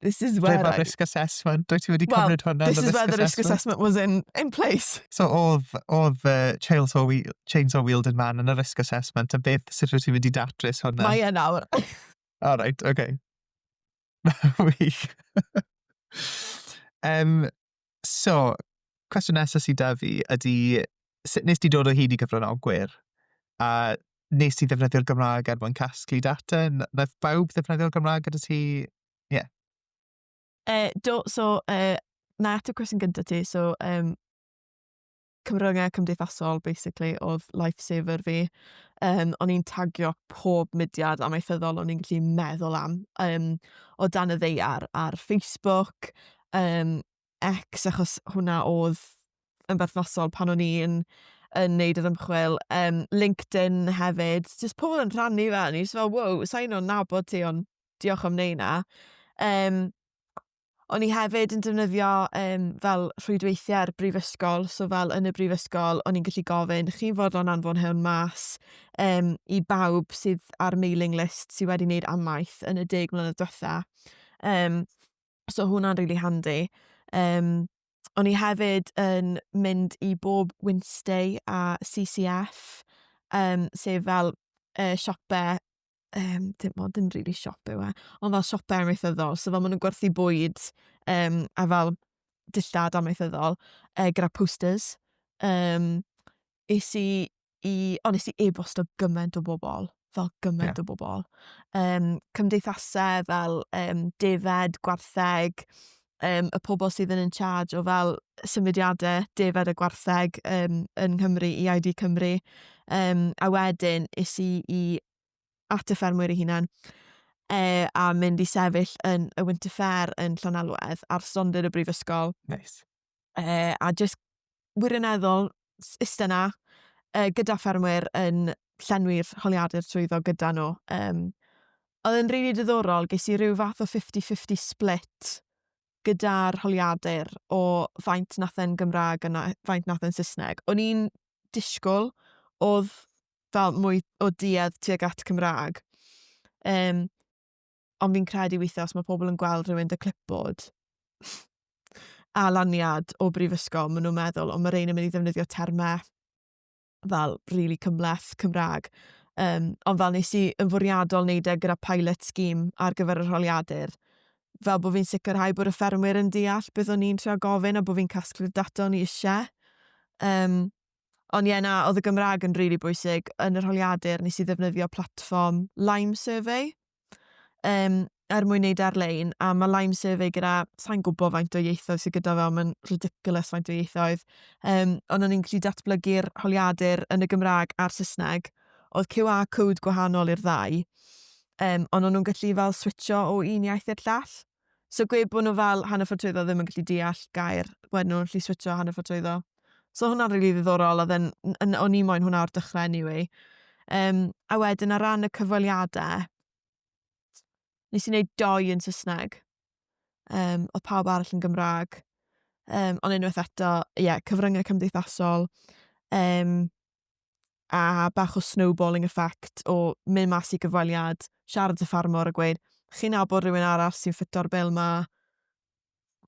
This is where... Ble mae risk assessment? Dwi ti wedi cymryd hwnna yn y risk assessment? Well, this is where the risk assessment was in, in place. So oedd, oedd uh, chainsaw, wheel, chainsaw wielding man yn y risk assessment, a beth sut wyt ti'n mynd i datrys hwnna? Mae yna awr. All right, okay. Wych. um, So, cwestiwn nesaf sydd 'da fi ydy, sut wnest ti dod o hyd i gyfranogwyr? A wnest ti ddefnyddio'r Gymraeg er mwyn casglu data? N- wnaeth bawb ddefnyddio'r Gymraeg gyda ti? Ie. Yy, do, so, yy, na ateb cwestiwn gyntaf ti. So, um, cyfryngau cymdeithasol basically oedd lifesaver fi. Um, o'n i'n tagio pob mudiad amaethyddol o'n i'n gallu meddwl am um, o dan y ddeiar ar Facebook, um, X achos hwnna oedd yn berthnasol pan o'n i'n yn neud yr ymchwil, um, LinkedIn hefyd, jyst pobl yn rhannu fe, o'n i'n fel, wow, sa'n o'n nabod ti, ond diolch am neud na. Um, O'n i hefyd yn defnyddio um, fel rhwydweithiau ar brifysgol, so fel yn y brifysgol, o'n i'n gallu gofyn, chi'n fodlon anfon hwn mas um, i bawb sydd ar mailing list sydd wedi wneud amaeth yn y deg mlynedd diwetha. Um, so hwnna'n really handy. Um, o'n i hefyd yn mynd i bob Wednesday a CCF, um, sef fel uh, siopau um, dim ond yn rili really siop yw e, ond fel siopau amaethyddol, so fel maen nhw'n gwerthu bwyd um, a fel dillad amaethyddol e, gyda posters. Um, es i i, ond nes i e-bost o gymaint o bobl, fel gymaint yeah. o bobl. Um, cymdeithasau fel um, defed, gwartheg, um, y pobl sydd yn in charge o fel symudiadau defed a gwartheg um, yn Nghymru i ID Cymru. Um, a wedyn is i i at y ffermwyr i hunan e, a mynd i sefyll yn y Winter Fair yn Llanelwedd ar stondin y brifysgol. Nice. E, a just wirioneddol iste 'na uh, gyda ffermwyr yn llenwi'r holiadur trwyddo gyda nhw. Um, oedd yn rili really diddorol, ges i rhyw fath o 50-50 split gyda'r holiadur o faint nath e'n Gymraeg a na, faint nath e'n Saesneg. O'n i'n disgwyl oedd fel mwy o duedd tuag at Cymraeg. Um, Ond fi'n credu weithiau os mae pobl yn gweld rhywun dy clipboard a laniad o brifysgol, maen nhw'n meddwl, ond mae rhain yn mynd i ddefnyddio termau fel really cymleth Cymraeg. Um, ond fel nes i yn fwriadol wneud e gyda pilot scheme ar gyfer y rholiadur, fel bod fi'n sicrhau bod y ffermwyr yn deall beth o'n i'n trio gofyn a bod fi'n casglu'r data o'n i eisiau. Um, Ond ie na, oedd y Gymraeg yn rili bwysig. Yn yr holiadur nes i ddefnyddio platfform Lime Survey um, er mwyn neud e ar-lein, a mae Lime Survey gyda, sa'n gwybod faint o ieithoedd sydd gyda fe, ond mae'n ridiculous faint o ieithoedd. Um, ond o'n i'n gallu datblygu'r holiadur yn y Gymraeg a'r Saesneg. Oedd QR code gwahanol i'r ddau, um, ond o'n nhw'n gallu fel switcho o un iaith i'r llall. So gwe bod nhw fel hanner ffordd trwyddo ddim yn gallu deall gair, wedyn nhw'n gallu switcho hanner ffordd trwyddo. So hwnna'n rili ddiddorol, oedd yn, yn, o'n i moyn hwnna o'r dechrau anyway. Um, a wedyn ar ran y cyfweliadau, nes i wneud doi yn Saesneg. Um, oedd pawb arall yn Gymraeg. Um, ond unwaith eto, ie, yeah, cyfryngau cymdeithasol. Um, a bach o snowballing effect o mynd mas i gyfweliad, siarad y ffarmwr a gweud, chi'n nabod rhywun arall sy'n ffito'r bil ma?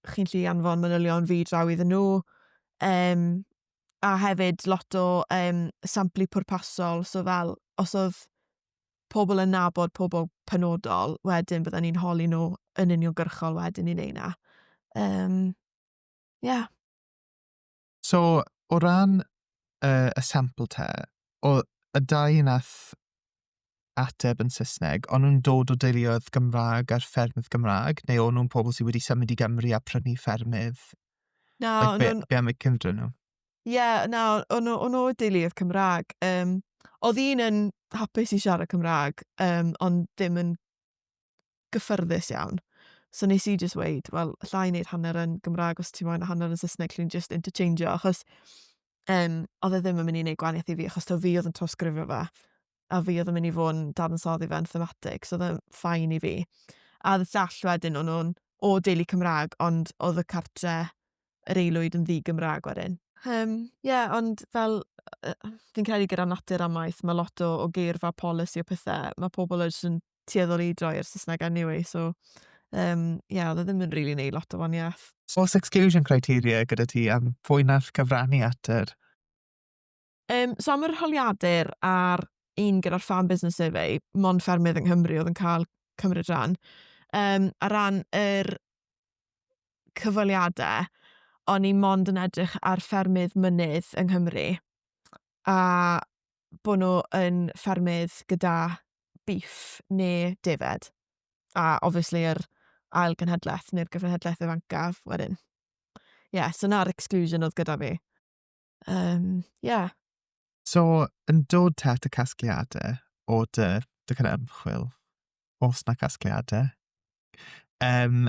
Chi'n lli anfon manylion fi draw iddyn nhw. Um, a hefyd lot o um, samplu pwrpasol, so fel os oedd pobl yn nabod pobl penodol, wedyn byddwn ni'n holi nhw yn uniongyrchol wedyn ni'n ei na. Um, yeah. So, o ran y, y sampl te, o y dau nath ateb yn Saesneg, o'n nhw'n dod o deuluoedd Gymraeg a'r ffermydd Gymraeg, neu o'n nhw'n pobl sydd wedi symud i Gymru a prynu ffermydd? Na, like, be, nhw... be am y cymdra nhw? Ie, yeah, na, o'n nhw o deuluoedd Cymraeg. Um, oedd un yn hapus i siarad Cymraeg, um, ond ddim yn gyffyrddus iawn. So nes i jyst weud, wel, alla i wneud hanner yn Gymraeg os ti moyn a hanner yn Saesneg, lle ni'n jyst interchangeio, achos um, oedd e ddim yn mynd i wneud gwaniaeth i fi, achos to fi oedd yn trawsgrifio fe, a fi oedd yn mynd i fod yn dadansoddi fe'n thematig, so oedd e'n ffain i fi. A oedd y llall wedyn, o'n nhw'n o deulu Cymraeg, ond oedd y cartre yr eilwyd yn ddi Gymraeg wedyn. Um, yeah, ond fel fi'n credu gyda natur amaeth, mae lot o, o geirfa polisi o pethau, mae pobl yn tueddol i droi i'r Saesneg anyway, so um, yeah, oedd e ddim yn rili really neud lot o waniaeth. Oes exclusion criteria gyda ti am fwy na'r cyfrannu at yr... Um, so am yr holiadur a'r un gyda'r Farm Business Survey, mon ffermydd yng Nghymru oedd yn cael cymryd rhan. Um, a ran yr cyfaliadau, o'n i mond yn edrych ar ffermydd mynydd yng Nghymru. a bod nhw yn ffermydd gyda bîff neu defaid. A obviously yr ail genhedlaeth neu'r gyfenhedlaeth ifancaf wedyn. Ie, yeah, so na'r exclusion oedd gyda fi. Um, yeah. So, yn dod te at y casgliadau o dy, dy kind of ymchwil, os na casgliadau, um,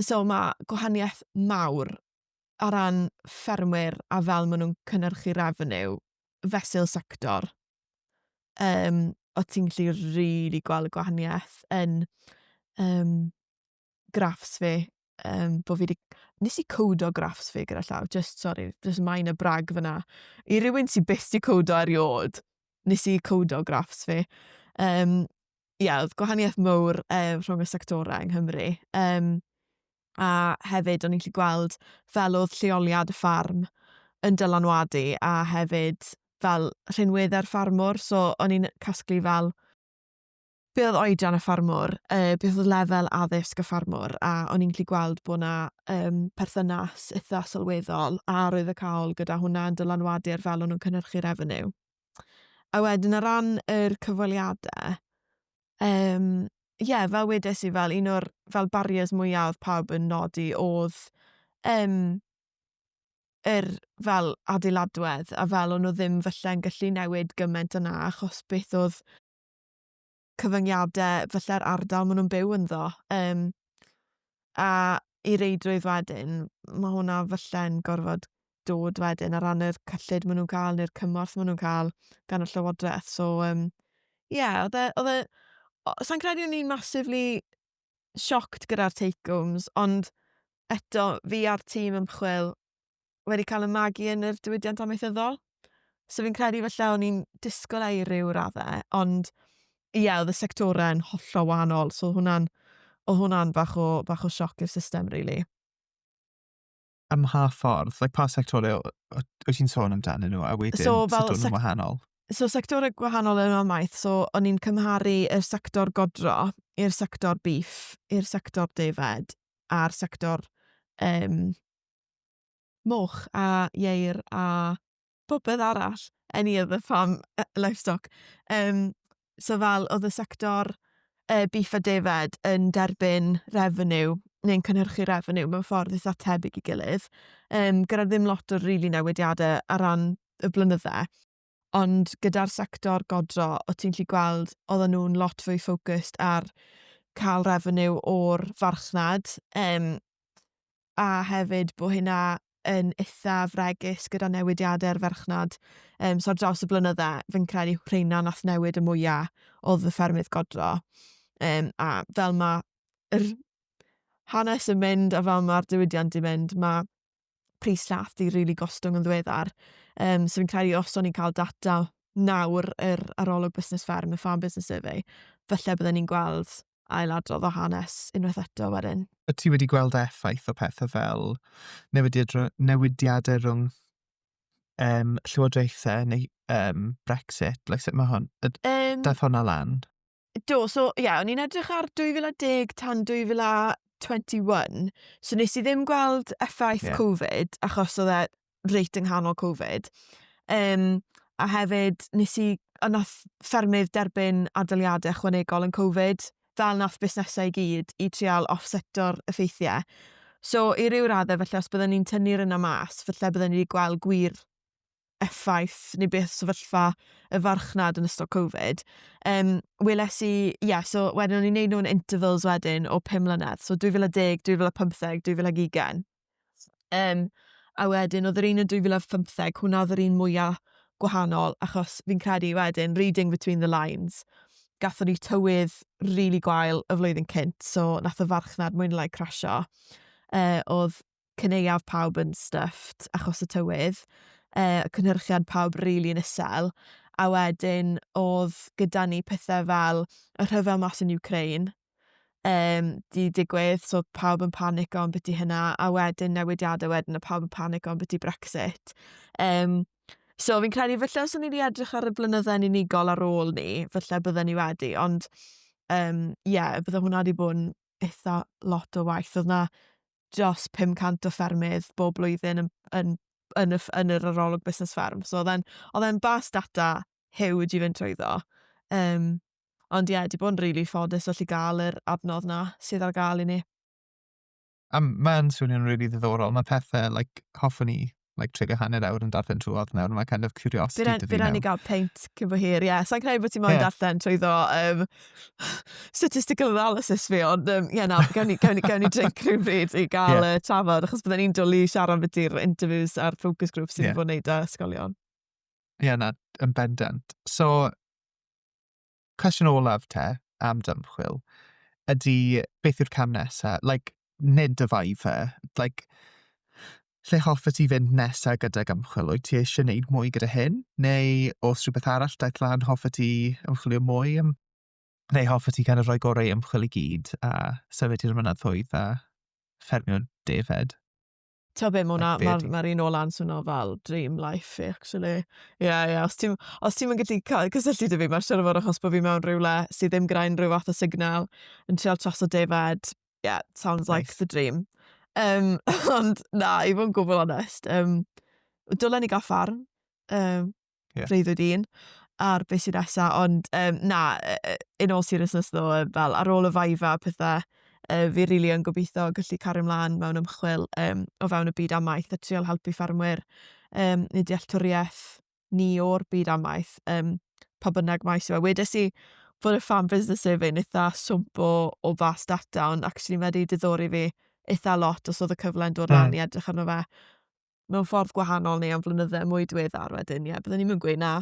So mae gwahaniaeth mawr ar ran ffermwyr a fel maen nhw'n cynnyrchu revenue fesul sector. Um, o ti'n gallu rili really gweld y gwahaniaeth yn um, graffs fi, um, bod fi wedi... Nes i cowdo graffs fi gyda llaw, just, sorry, just maen y brag fyna. I rywun sy'n byst i cowdo eriod, nes i cowdo graffs fi. Um, ia, oedd gwahaniaeth mowr um, rhwng y sectorau yng Nghymru. Um, a hefyd o'n i'n gallu gweld fel oedd lleoliad y ffarm yn dylanwadu a hefyd fel rhinweddau'r ffarmwr. So o'n i'n casglu fel be oedd oedran y ffarmwr, uh, beth oedd lefel addysg y ffarmwr, a o'n i'n gallu gweld bod yna um, perthynas eitha sylweddol a roedd y cawl gyda hwnna yn dylanwadu ar fel o'n nhw'n cynhyrchu refeniw. A wedyn o ran yr cyfweliade yym ie fel wedes i fel un o'r fel barriers mwya odd pawb yn nodi odd yym yr fel adeiladwedd a fel o'n nw ddim falle'n gallu newid gyment yna achos beth odd cyfyngiadau falle'r ardal maen nhw'n byw ynddo. Um, a i reidrwydd wedyn, mae hwnna falle'n gorfod dod wedyn ar ran yr cyllid maen nhw'n cael neu'r cymorth maen nhw'n cael gan y llywodraeth. So, um, yeah, oedd e... Oedd e Sa'n credu o'n i'n massively shocked gyda'r take-homes, ond eto, fi a'r tîm ymchwil wedi cael y magu yn yr diwydiant amaethyddol. So fi'n credu falle o'n i'n disgwyl ei ryw raddau, ond ie, yeah, oedd y sectorau yn hollol wahanol, so hwnna'n o hwnna'n fach o, fach o sioc i'r system, really. Ym mha ffordd? Like, pa sectorau wyt ti'n sôn amdanyn nhw, a wedyn so, fel, sut o'n wahanol? So, sectorau gwahanol yn amaeth, so o'n i'n cymharu y sector godro i'r sector beef, i'r sector defed, a'r sector um, moch a ieir a phopeth arall, any of the farm uh, livestock. Um, so fel oedd y sector uh, beef a defaid yn derbyn revenue neu'n cynhyrchu revenue mewn ffordd eitha tebyg i gilydd, um, gyda ddim lot o rili really newidiadau ar ran y blynydde. ond gyda'r sector godro, o ti'n lli gweld, oedden nhw'n lot fwy ffocust ar cael revenue o'r farchnad, um, a hefyd bod hynna yn eitha fregus gyda newidiadau'r farchnad. Um, so ar draws y blynyddau, fi'n credu rheina nath newid y mwyaf oedd y ffermydd godro. Um, a fel mae'r hanes yn mynd a fel mae'r diwydiant yn mynd, mae pris llath di rili gostwng yn ddiweddar. Um, so fi'n credu os o'n i'n cael data nawr yr arolwg busnes fferm, y farm business survey, falle byddwn ni'n gweld ail adrodd o hanes unwaith eto wedyn. Y ti wedi gweld effaith o pethau fel newidiadau rhwng um, llywodraethau neu um, Brexit? Like, sut mae hwn? Um, Daeth hwnna lan? Do, so ie, yeah, o'n i'n edrych ar 2010 tan 2021, so nes i ddim gweld effaith yeah. Covid, achos oedd e reit yng nghanol Covid. Um, a hefyd, nes i, a nath ffermydd derbyn adaliadau chwanegol yn Covid, fel nath busnesau i gyd, i trial offseto'r effeithiau. So, i ryw raddau, felly os byddwn ni'n tynnu'r yna mas, felly byddwn ni wedi gweld gwir effaith neu beth sefyllfa y farchnad yn ystod Covid, um, weles i, ie, yeah, so wedyn o'n i'n neud nhw'n intervals wedyn o 5 mlynedd, so 2010, 2015, 2020. Um, a wedyn oedd yr un yn 2015, hwnna oedd yr un mwyaf gwahanol, achos fi'n credu wedyn, reading between the lines, gatho ni tywydd rili really gwael y flwyddyn cynt, so nath y farchnad mwyn lai crasio. Uh, oedd cyneuaf pawb yn stuffed achos y tywydd, uh, cynhyrchiad pawb rili really yn isel, a wedyn oedd gyda ni pethau fel y rhyfel mas yn Ukraine, um, di digwydd, so pawb yn panic o'n beth i hynna, a wedyn newidiadau wedyn, a pawb yn panic o'n beth i Brexit. Um, So fi'n credu falle os o'n i wedi edrych ar y blynydde'n unigol ar ôl ni, falle bydden ni wedi, ond ie, um, yeah, bydde hwnna wedi bod yn eitha lot o waith. Oedd na dros 500 o ffermydd bob blwyddyn yn, yn, yn, y, yn yr arolwg busnes fferm. So oedd e'n bas data huge i fynd trwyddo. Um, ond ie, yeah, di bod yn rili really ffodus allu gael yr adnodd na sydd ar gael i ni. A mae'n swnio'n rili really ddiddorol. Mae pethau, like, hoffwn ni like, trigger hanner awr yn darllen trwodd nawr, mae kind of curiosity dy fi nawr. Bydd rhaid i gael peint cyn fy hir, ie. Yeah. Sa'n credu bod ti'n moyn yeah. darllen trwy ddo um, statistical analysis fi, ond um, ie, yeah, na, gawn ni, gawn ni, gawn ni drink rhywun bryd i gael yeah. uh, trafod, achos byddai'n un dwlu siarad beth i'r interviews a'r focus group sy'n yeah. bod wneud â ysgolion. Ie, yeah, na, yn bendant. So, cwestiwn olaf te am dymchwil ydy beth yw'r cam nesa? Like, nid y Viva. Like, lle hoffet ti fynd nesa gydag ymchwil? Wyt ti eisiau gwneud mwy gyda hyn? Neu os rhywbeth arall daeth lan, hoffet ti ymchwilio mwy am... Neu hoffet ti kind of rhoi gorau ymchwil i gyd a symud i'r mynyddoedd a ffermio defaid? Ti'n be, mae like, ma, ma un o lan swnio fel dream life fi, actually. Ie, yeah, ie, yeah. os ti'n ti mynd gallu cael cysylltu dy fi, mae'r siarad fawr achos bod fi mewn rhywle sydd ddim gyda unrhyw fath o signal yn treol tras o defed. Yeah, sounds like the dream. Um, ond na, i fod yn gwbl onest, um, dylen ni gael ffarm. Um, yeah. freuddwyd un ar beth sy'n nesa, ond um, na, in all seriousness ddo, fel ar ôl y faifa a pethau, uh, fi rili really yn gobeithio gallu cario ymlaen mewn ymchwil um, o fewn y byd amaeth a trial helpu ffermwyr um, neu dealltwriaeth ni o'r byd amaeth, um, pa bynnag maes yw e. Wedes i fod y fan busnes survey yn eitha swmp o, o fas data, ond actually mae wedi diddori fi eitha lot os oedd y cyfle yn dod mm. lan i edrych arno fe. mewn ffordd gwahanol neu am flynyddau mwy diweddar wedyn, ie, yeah, byddwn ni'n mynd gweud na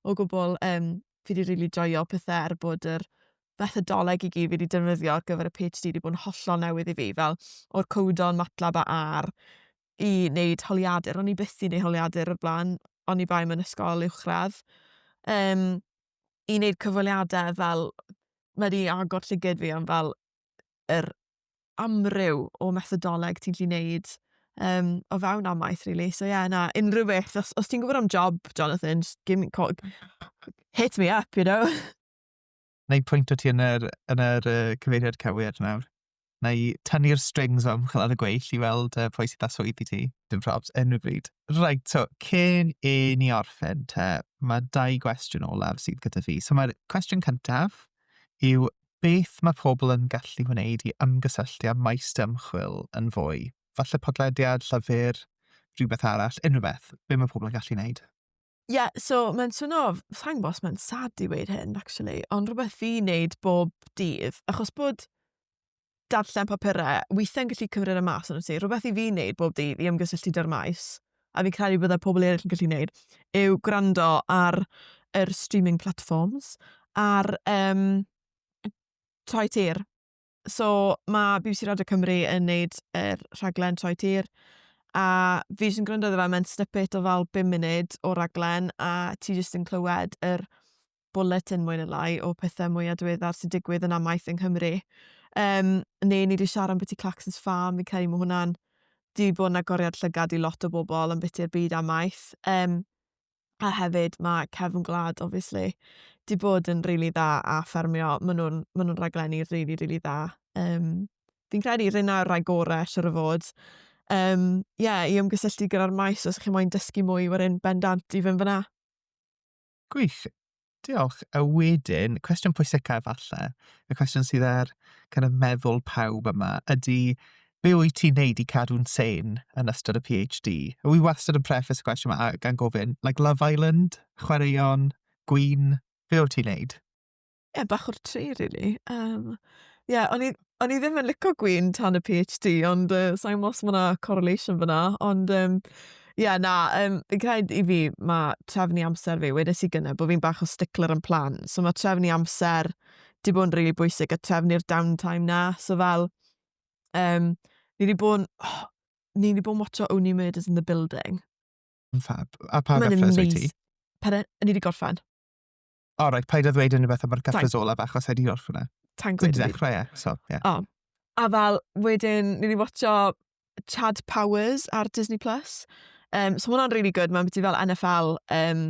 o gwbl. Um, fi wedi rili really joio pethau er bod yr fethodoleg i gyd fi wedi defnyddio ar gyfer y PhD wedi bod yn hollol newydd i fi, fel o'r cowdon, matlab a ar i wneud holiadur. O'n i byth i wneud holiadur o'r blaen, o'n i bai mewn ysgol uwchradd. Um, I wneud cyfweliadau fel, mae wedi agor llygyd fi am fel yr amryw o methodoleg ti'n gallu neud um, o fewn amaeth, really. So, ie, yeah, na, unrhyw beth. Os, os ti'n gwybod am job, Jonathan, just give me, call, hit me up, you know? Na i pwynt o ti yn yr, yn yr uh, cyfeiriad cywir nawr. Na i tynnu'r strings am chlad y gweill i weld uh, pwy sydd â swydd i ti. Dim probs, enw bryd. Right, so, cyn i ni orffen te, mae dau gwestiwn olaf sydd gyda fi. So mae'r cwestiwn cyntaf yw Beth mae pobl yn gallu wneud i ymgysylltu â maes dy ymchwil yn fwy? Falle podlediad, llyfr, rhywbeth arall, unrhyw beth. Be mae pobl yn gallu wneud? Ie, yeah, so mae'n swno, sa'n gwybod os mae'n sad i weid hyn, actually, ond rhywbeth fi wneud bob dydd, achos bod darllen papurau weithiau'n gallu cymryd y mas yn ti, rhywbeth i fi wneud bob dydd i ymgysylltu dy'r maes, a fi'n credu byddai pobl eraill yn gallu gwneud, yw gwrando ar yr streaming platforms, ar um, Troi Tir. So mae BBC Radio Cymru yn neud yr er rhaglen Troi Tir, a fi jyst yn gwrando iddo fe, mae'n snippet o fel 5 munud o raglen, a ti jyst yn clywed yr er bwletin mwy neu lai o pethau mwyaf diweddar sy'n digwydd yn amaeth yng Nghymru. Um, neu ni wedi siarad am beth i Claxon's Farm, fi'n credu mae hwnna'n di bod yn agoriad llygad i lot o bobl yn beth i'r byd amaeth. Um, a hefyd mae Cefn Gwlad, obviously, di bod yn rili really dda a ffermio. Maen nhw'n ma nhw raglenni rili, really, rili really dda. Um, fi'n credu rhywun o'r rhai gorau, siwr o fod. Um, yeah, i ymgysylltu gyda'r maes os ydych chi'n moyn dysgu mwy, wedyn bendant i fynd fyna. Gwych. Diolch. A wedyn, cwestiwn pwysicaf falle, y cwestiwn sydd ar kind of meddwl pawb yma, ydy be wyt ti'n neud i cadw'n sen yn ystod y PhD? A wi wastad yn preface y cwestiwn yma gan gofyn, like Love Island, chwaraeon, gwyn, be wyt ti'n neud? ie bach o'r tri rili yym ie o'n i o'n i ddim yn lico gwin tan y Pee Haitch Dee ond yy sai'n gwbo os ma' 'na correlation fyn 'na ond yym ie na yym fi'n credu i fi ma' trefnu amser fi wedes i gynne' bo' fi'n bach o stickler am plan so ma' trefnu amser 'di bod yn rili bwysig a trefnu'r down time 'na so fel yym ni 'di bod yn oh, ni 'di bod yn watcho Only Murders in the Building. Fab. A pa Ma'n gyfres wyt ti? amazing. Pardon? Ni 'di gorffen. O, oh, right, paid a ddweud unrhyw beth am yr cyffres olaf achos wedi gorff hwnna. Ta'n gwyd. Wedi dechrau e, so, ie. Yeah. Oh. A fel, wedyn, ni wedi watcho Chad Powers ar Disney+. Plus. Um, so hwnna'n really good, mae'n byddu fel NFL. Um,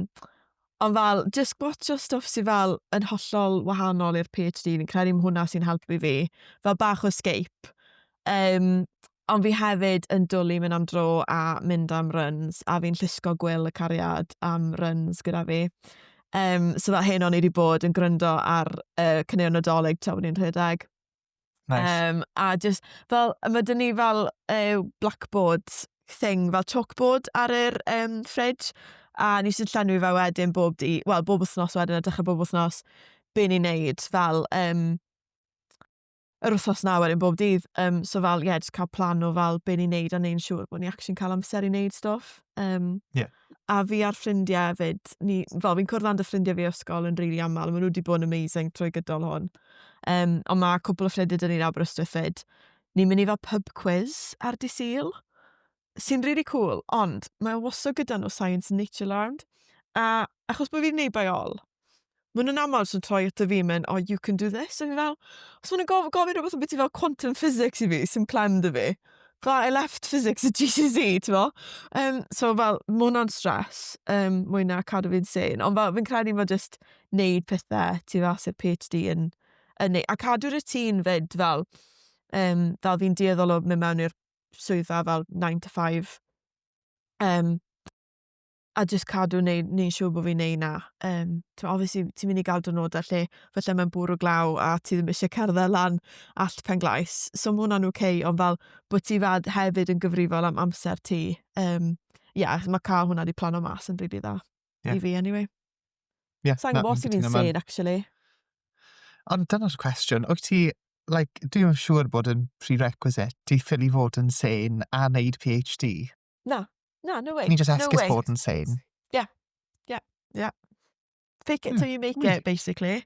ond fel, just gwatcho stuff sy'n fel yn hollol wahanol i'r PhD, fi'n credu hwnna sy'n helpu fi. Fel bach o escape. Um, ond fi hefyd yn dwlu mynd am dro a mynd am runs, a fi'n llusgo gwyl y cariad am runs gyda fi. Um, so fel hyn o'n i wedi bod yn gryndo ar uh, cynnig nadolig tra bod ni'n rhedeg. Nice. Um, a just, fel, mae dyn ni fel uh, blackboard thing, fel chalkboard ar yr um, fridge, a ni sy'n llenwi fe wedyn bob di, wel, bob wythnos wedyn, a dechrau bob wythnos, be ni'n neud, fel, um, yr wythnos na wedyn bob dydd. Um, so fel, ie, yeah, just cael plan o fel be ni'n neud a neu'n siŵr bod ni actually'n cael amser i neud stwff. Um, yeah. A fi a'r ffrindiau hefyd, ni, fel fi'n cwrdd â'n dy ffrindiau fi ysgol yn rili really aml, maen nhw wedi bod yn amazing trwy gydol hwn. Um, ond mae cwbl o ffrindiau dyn ni'n Aberystwyth fyd. Ni'n mynd i fel pub quiz ar di syl. sy'n rili really cool, ond mae wastad gyda nhw Science Nature Land, a achos bod fi'n neud by all, maen nhw'n aml sy'n troi at y fi mynd, oh, you can do this, a fi fel, os maen nhw'n gofyn, gofyn rhywbeth yn beth i fel quantum physics i fi, sy'n clem dy fi, fel I left physics at GCSE, ti'n mo? Um, so fel, mae hwnna'n stres, um, mwy na cadw fi'n sen, ond fel, fi'n credu mae just neud pethau, ti fel, sy'r PhD yn, yn neud, a cadw routine fyd, fel, um, fel fi'n dieddol o mynd mewn i'r swyddfa fel nine to five um, a jyst cadw neu, neu siw bod fi'n neud na. Um, obviously, ti'n mynd i gael dynodau lle felly mae'n bwrw glaw a ti ddim eisiau cerdded lan allt pen glais. So mae hwnna'n oce, okay, ond fel bod ti fad hefyd yn gyfrifol am amser ti. Um, yeah, mae cael hwnna wedi plano mas yn rili really dda. Yeah. I fi, anyway. Yeah, Sa'n gwybod os fi'n sane, actually. Ond dyna'r cwestiwn. Wyt ti, like, dwi'n siŵr bod yn prerequisite ti ffil i fod yn sane a wneud PhD. Na, na, no way. Can you just esgus no bod yn sane? Yeah, yeah, yeah. Fake it hmm. till you make it, basically.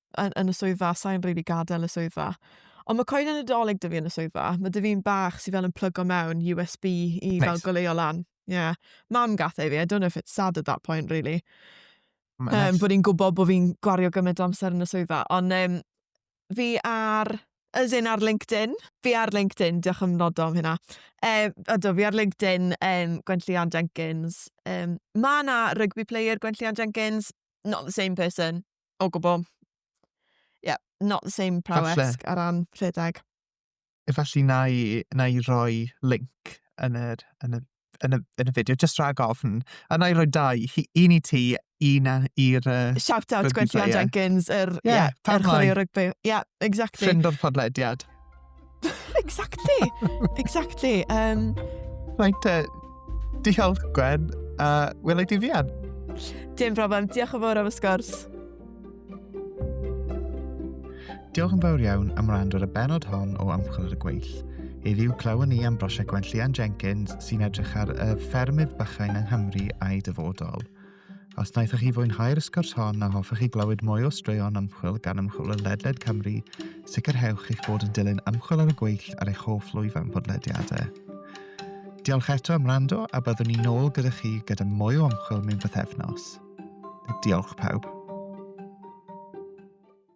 yn, yn y swyddfa, sa'n rili gadael y swyddfa. Ond mae coed yn y doleg dy fi yn y swyddfa. Mae dy fi'n bach sy'n fel yn plygo mewn USB i nice. fel goleo lan. Yeah. Mam gath ei fi, I don't know if it's sad at that point, really. Um, nice. Bod i'n gwybod bod fi'n gwario gymaint o amser yn y swyddfa. Ond um, fi ar as in ar LinkedIn. Fi ar LinkedIn, diolch am nodo am hynna. Um, ydw, fi ar LinkedIn, um, Gwenllian Jenkins. Um, mae yna rugby player Gwenllian Jenkins, not the same person. O gwbl. Yeah, not the same prowess Falle. ar ran rhedeg. Efallai na i, na i roi link yn yr, yn y, yn y, yn y fideo, just rhag ofn. A na i roi dau, hi- un i ti, un a- i'r... Uh, Shout out Rugby Gwenllian player. Jenkins, yr, Ie, yeah, pam yr chwarae lai? o rygbi. Yeah, exactly. Ffrind o'r podlediad. exactly! Exactly. Um... Right, uh, diolch Gwen, a uh, welai di fian. Dim problem, diolch yn fawr am y sgwrs. Diolch yn fawr iawn am rand ar y benod hon o Amchwil ar y Gweill. Heddiw clywon ni am brosiect Gwenllian Jenkins sy'n edrych ar y ffermydd bychain yng Nghymru a'i dyfodol. Os wnaethoch chi fwynhau'r sgwrs hon a hoffech chi glywed mwy o straeon ymchwil gan ymchwilwyr ledled Cymru, sicrhewch eich bod yn dilyn ymchwil ar y gweill ar eich hoff lwyfan podlediadau. Diolch eto am rando a byddwn ni'n ôl gyda chi gyda mwy o ymchwil mewn bythefnos. Diolch pawb.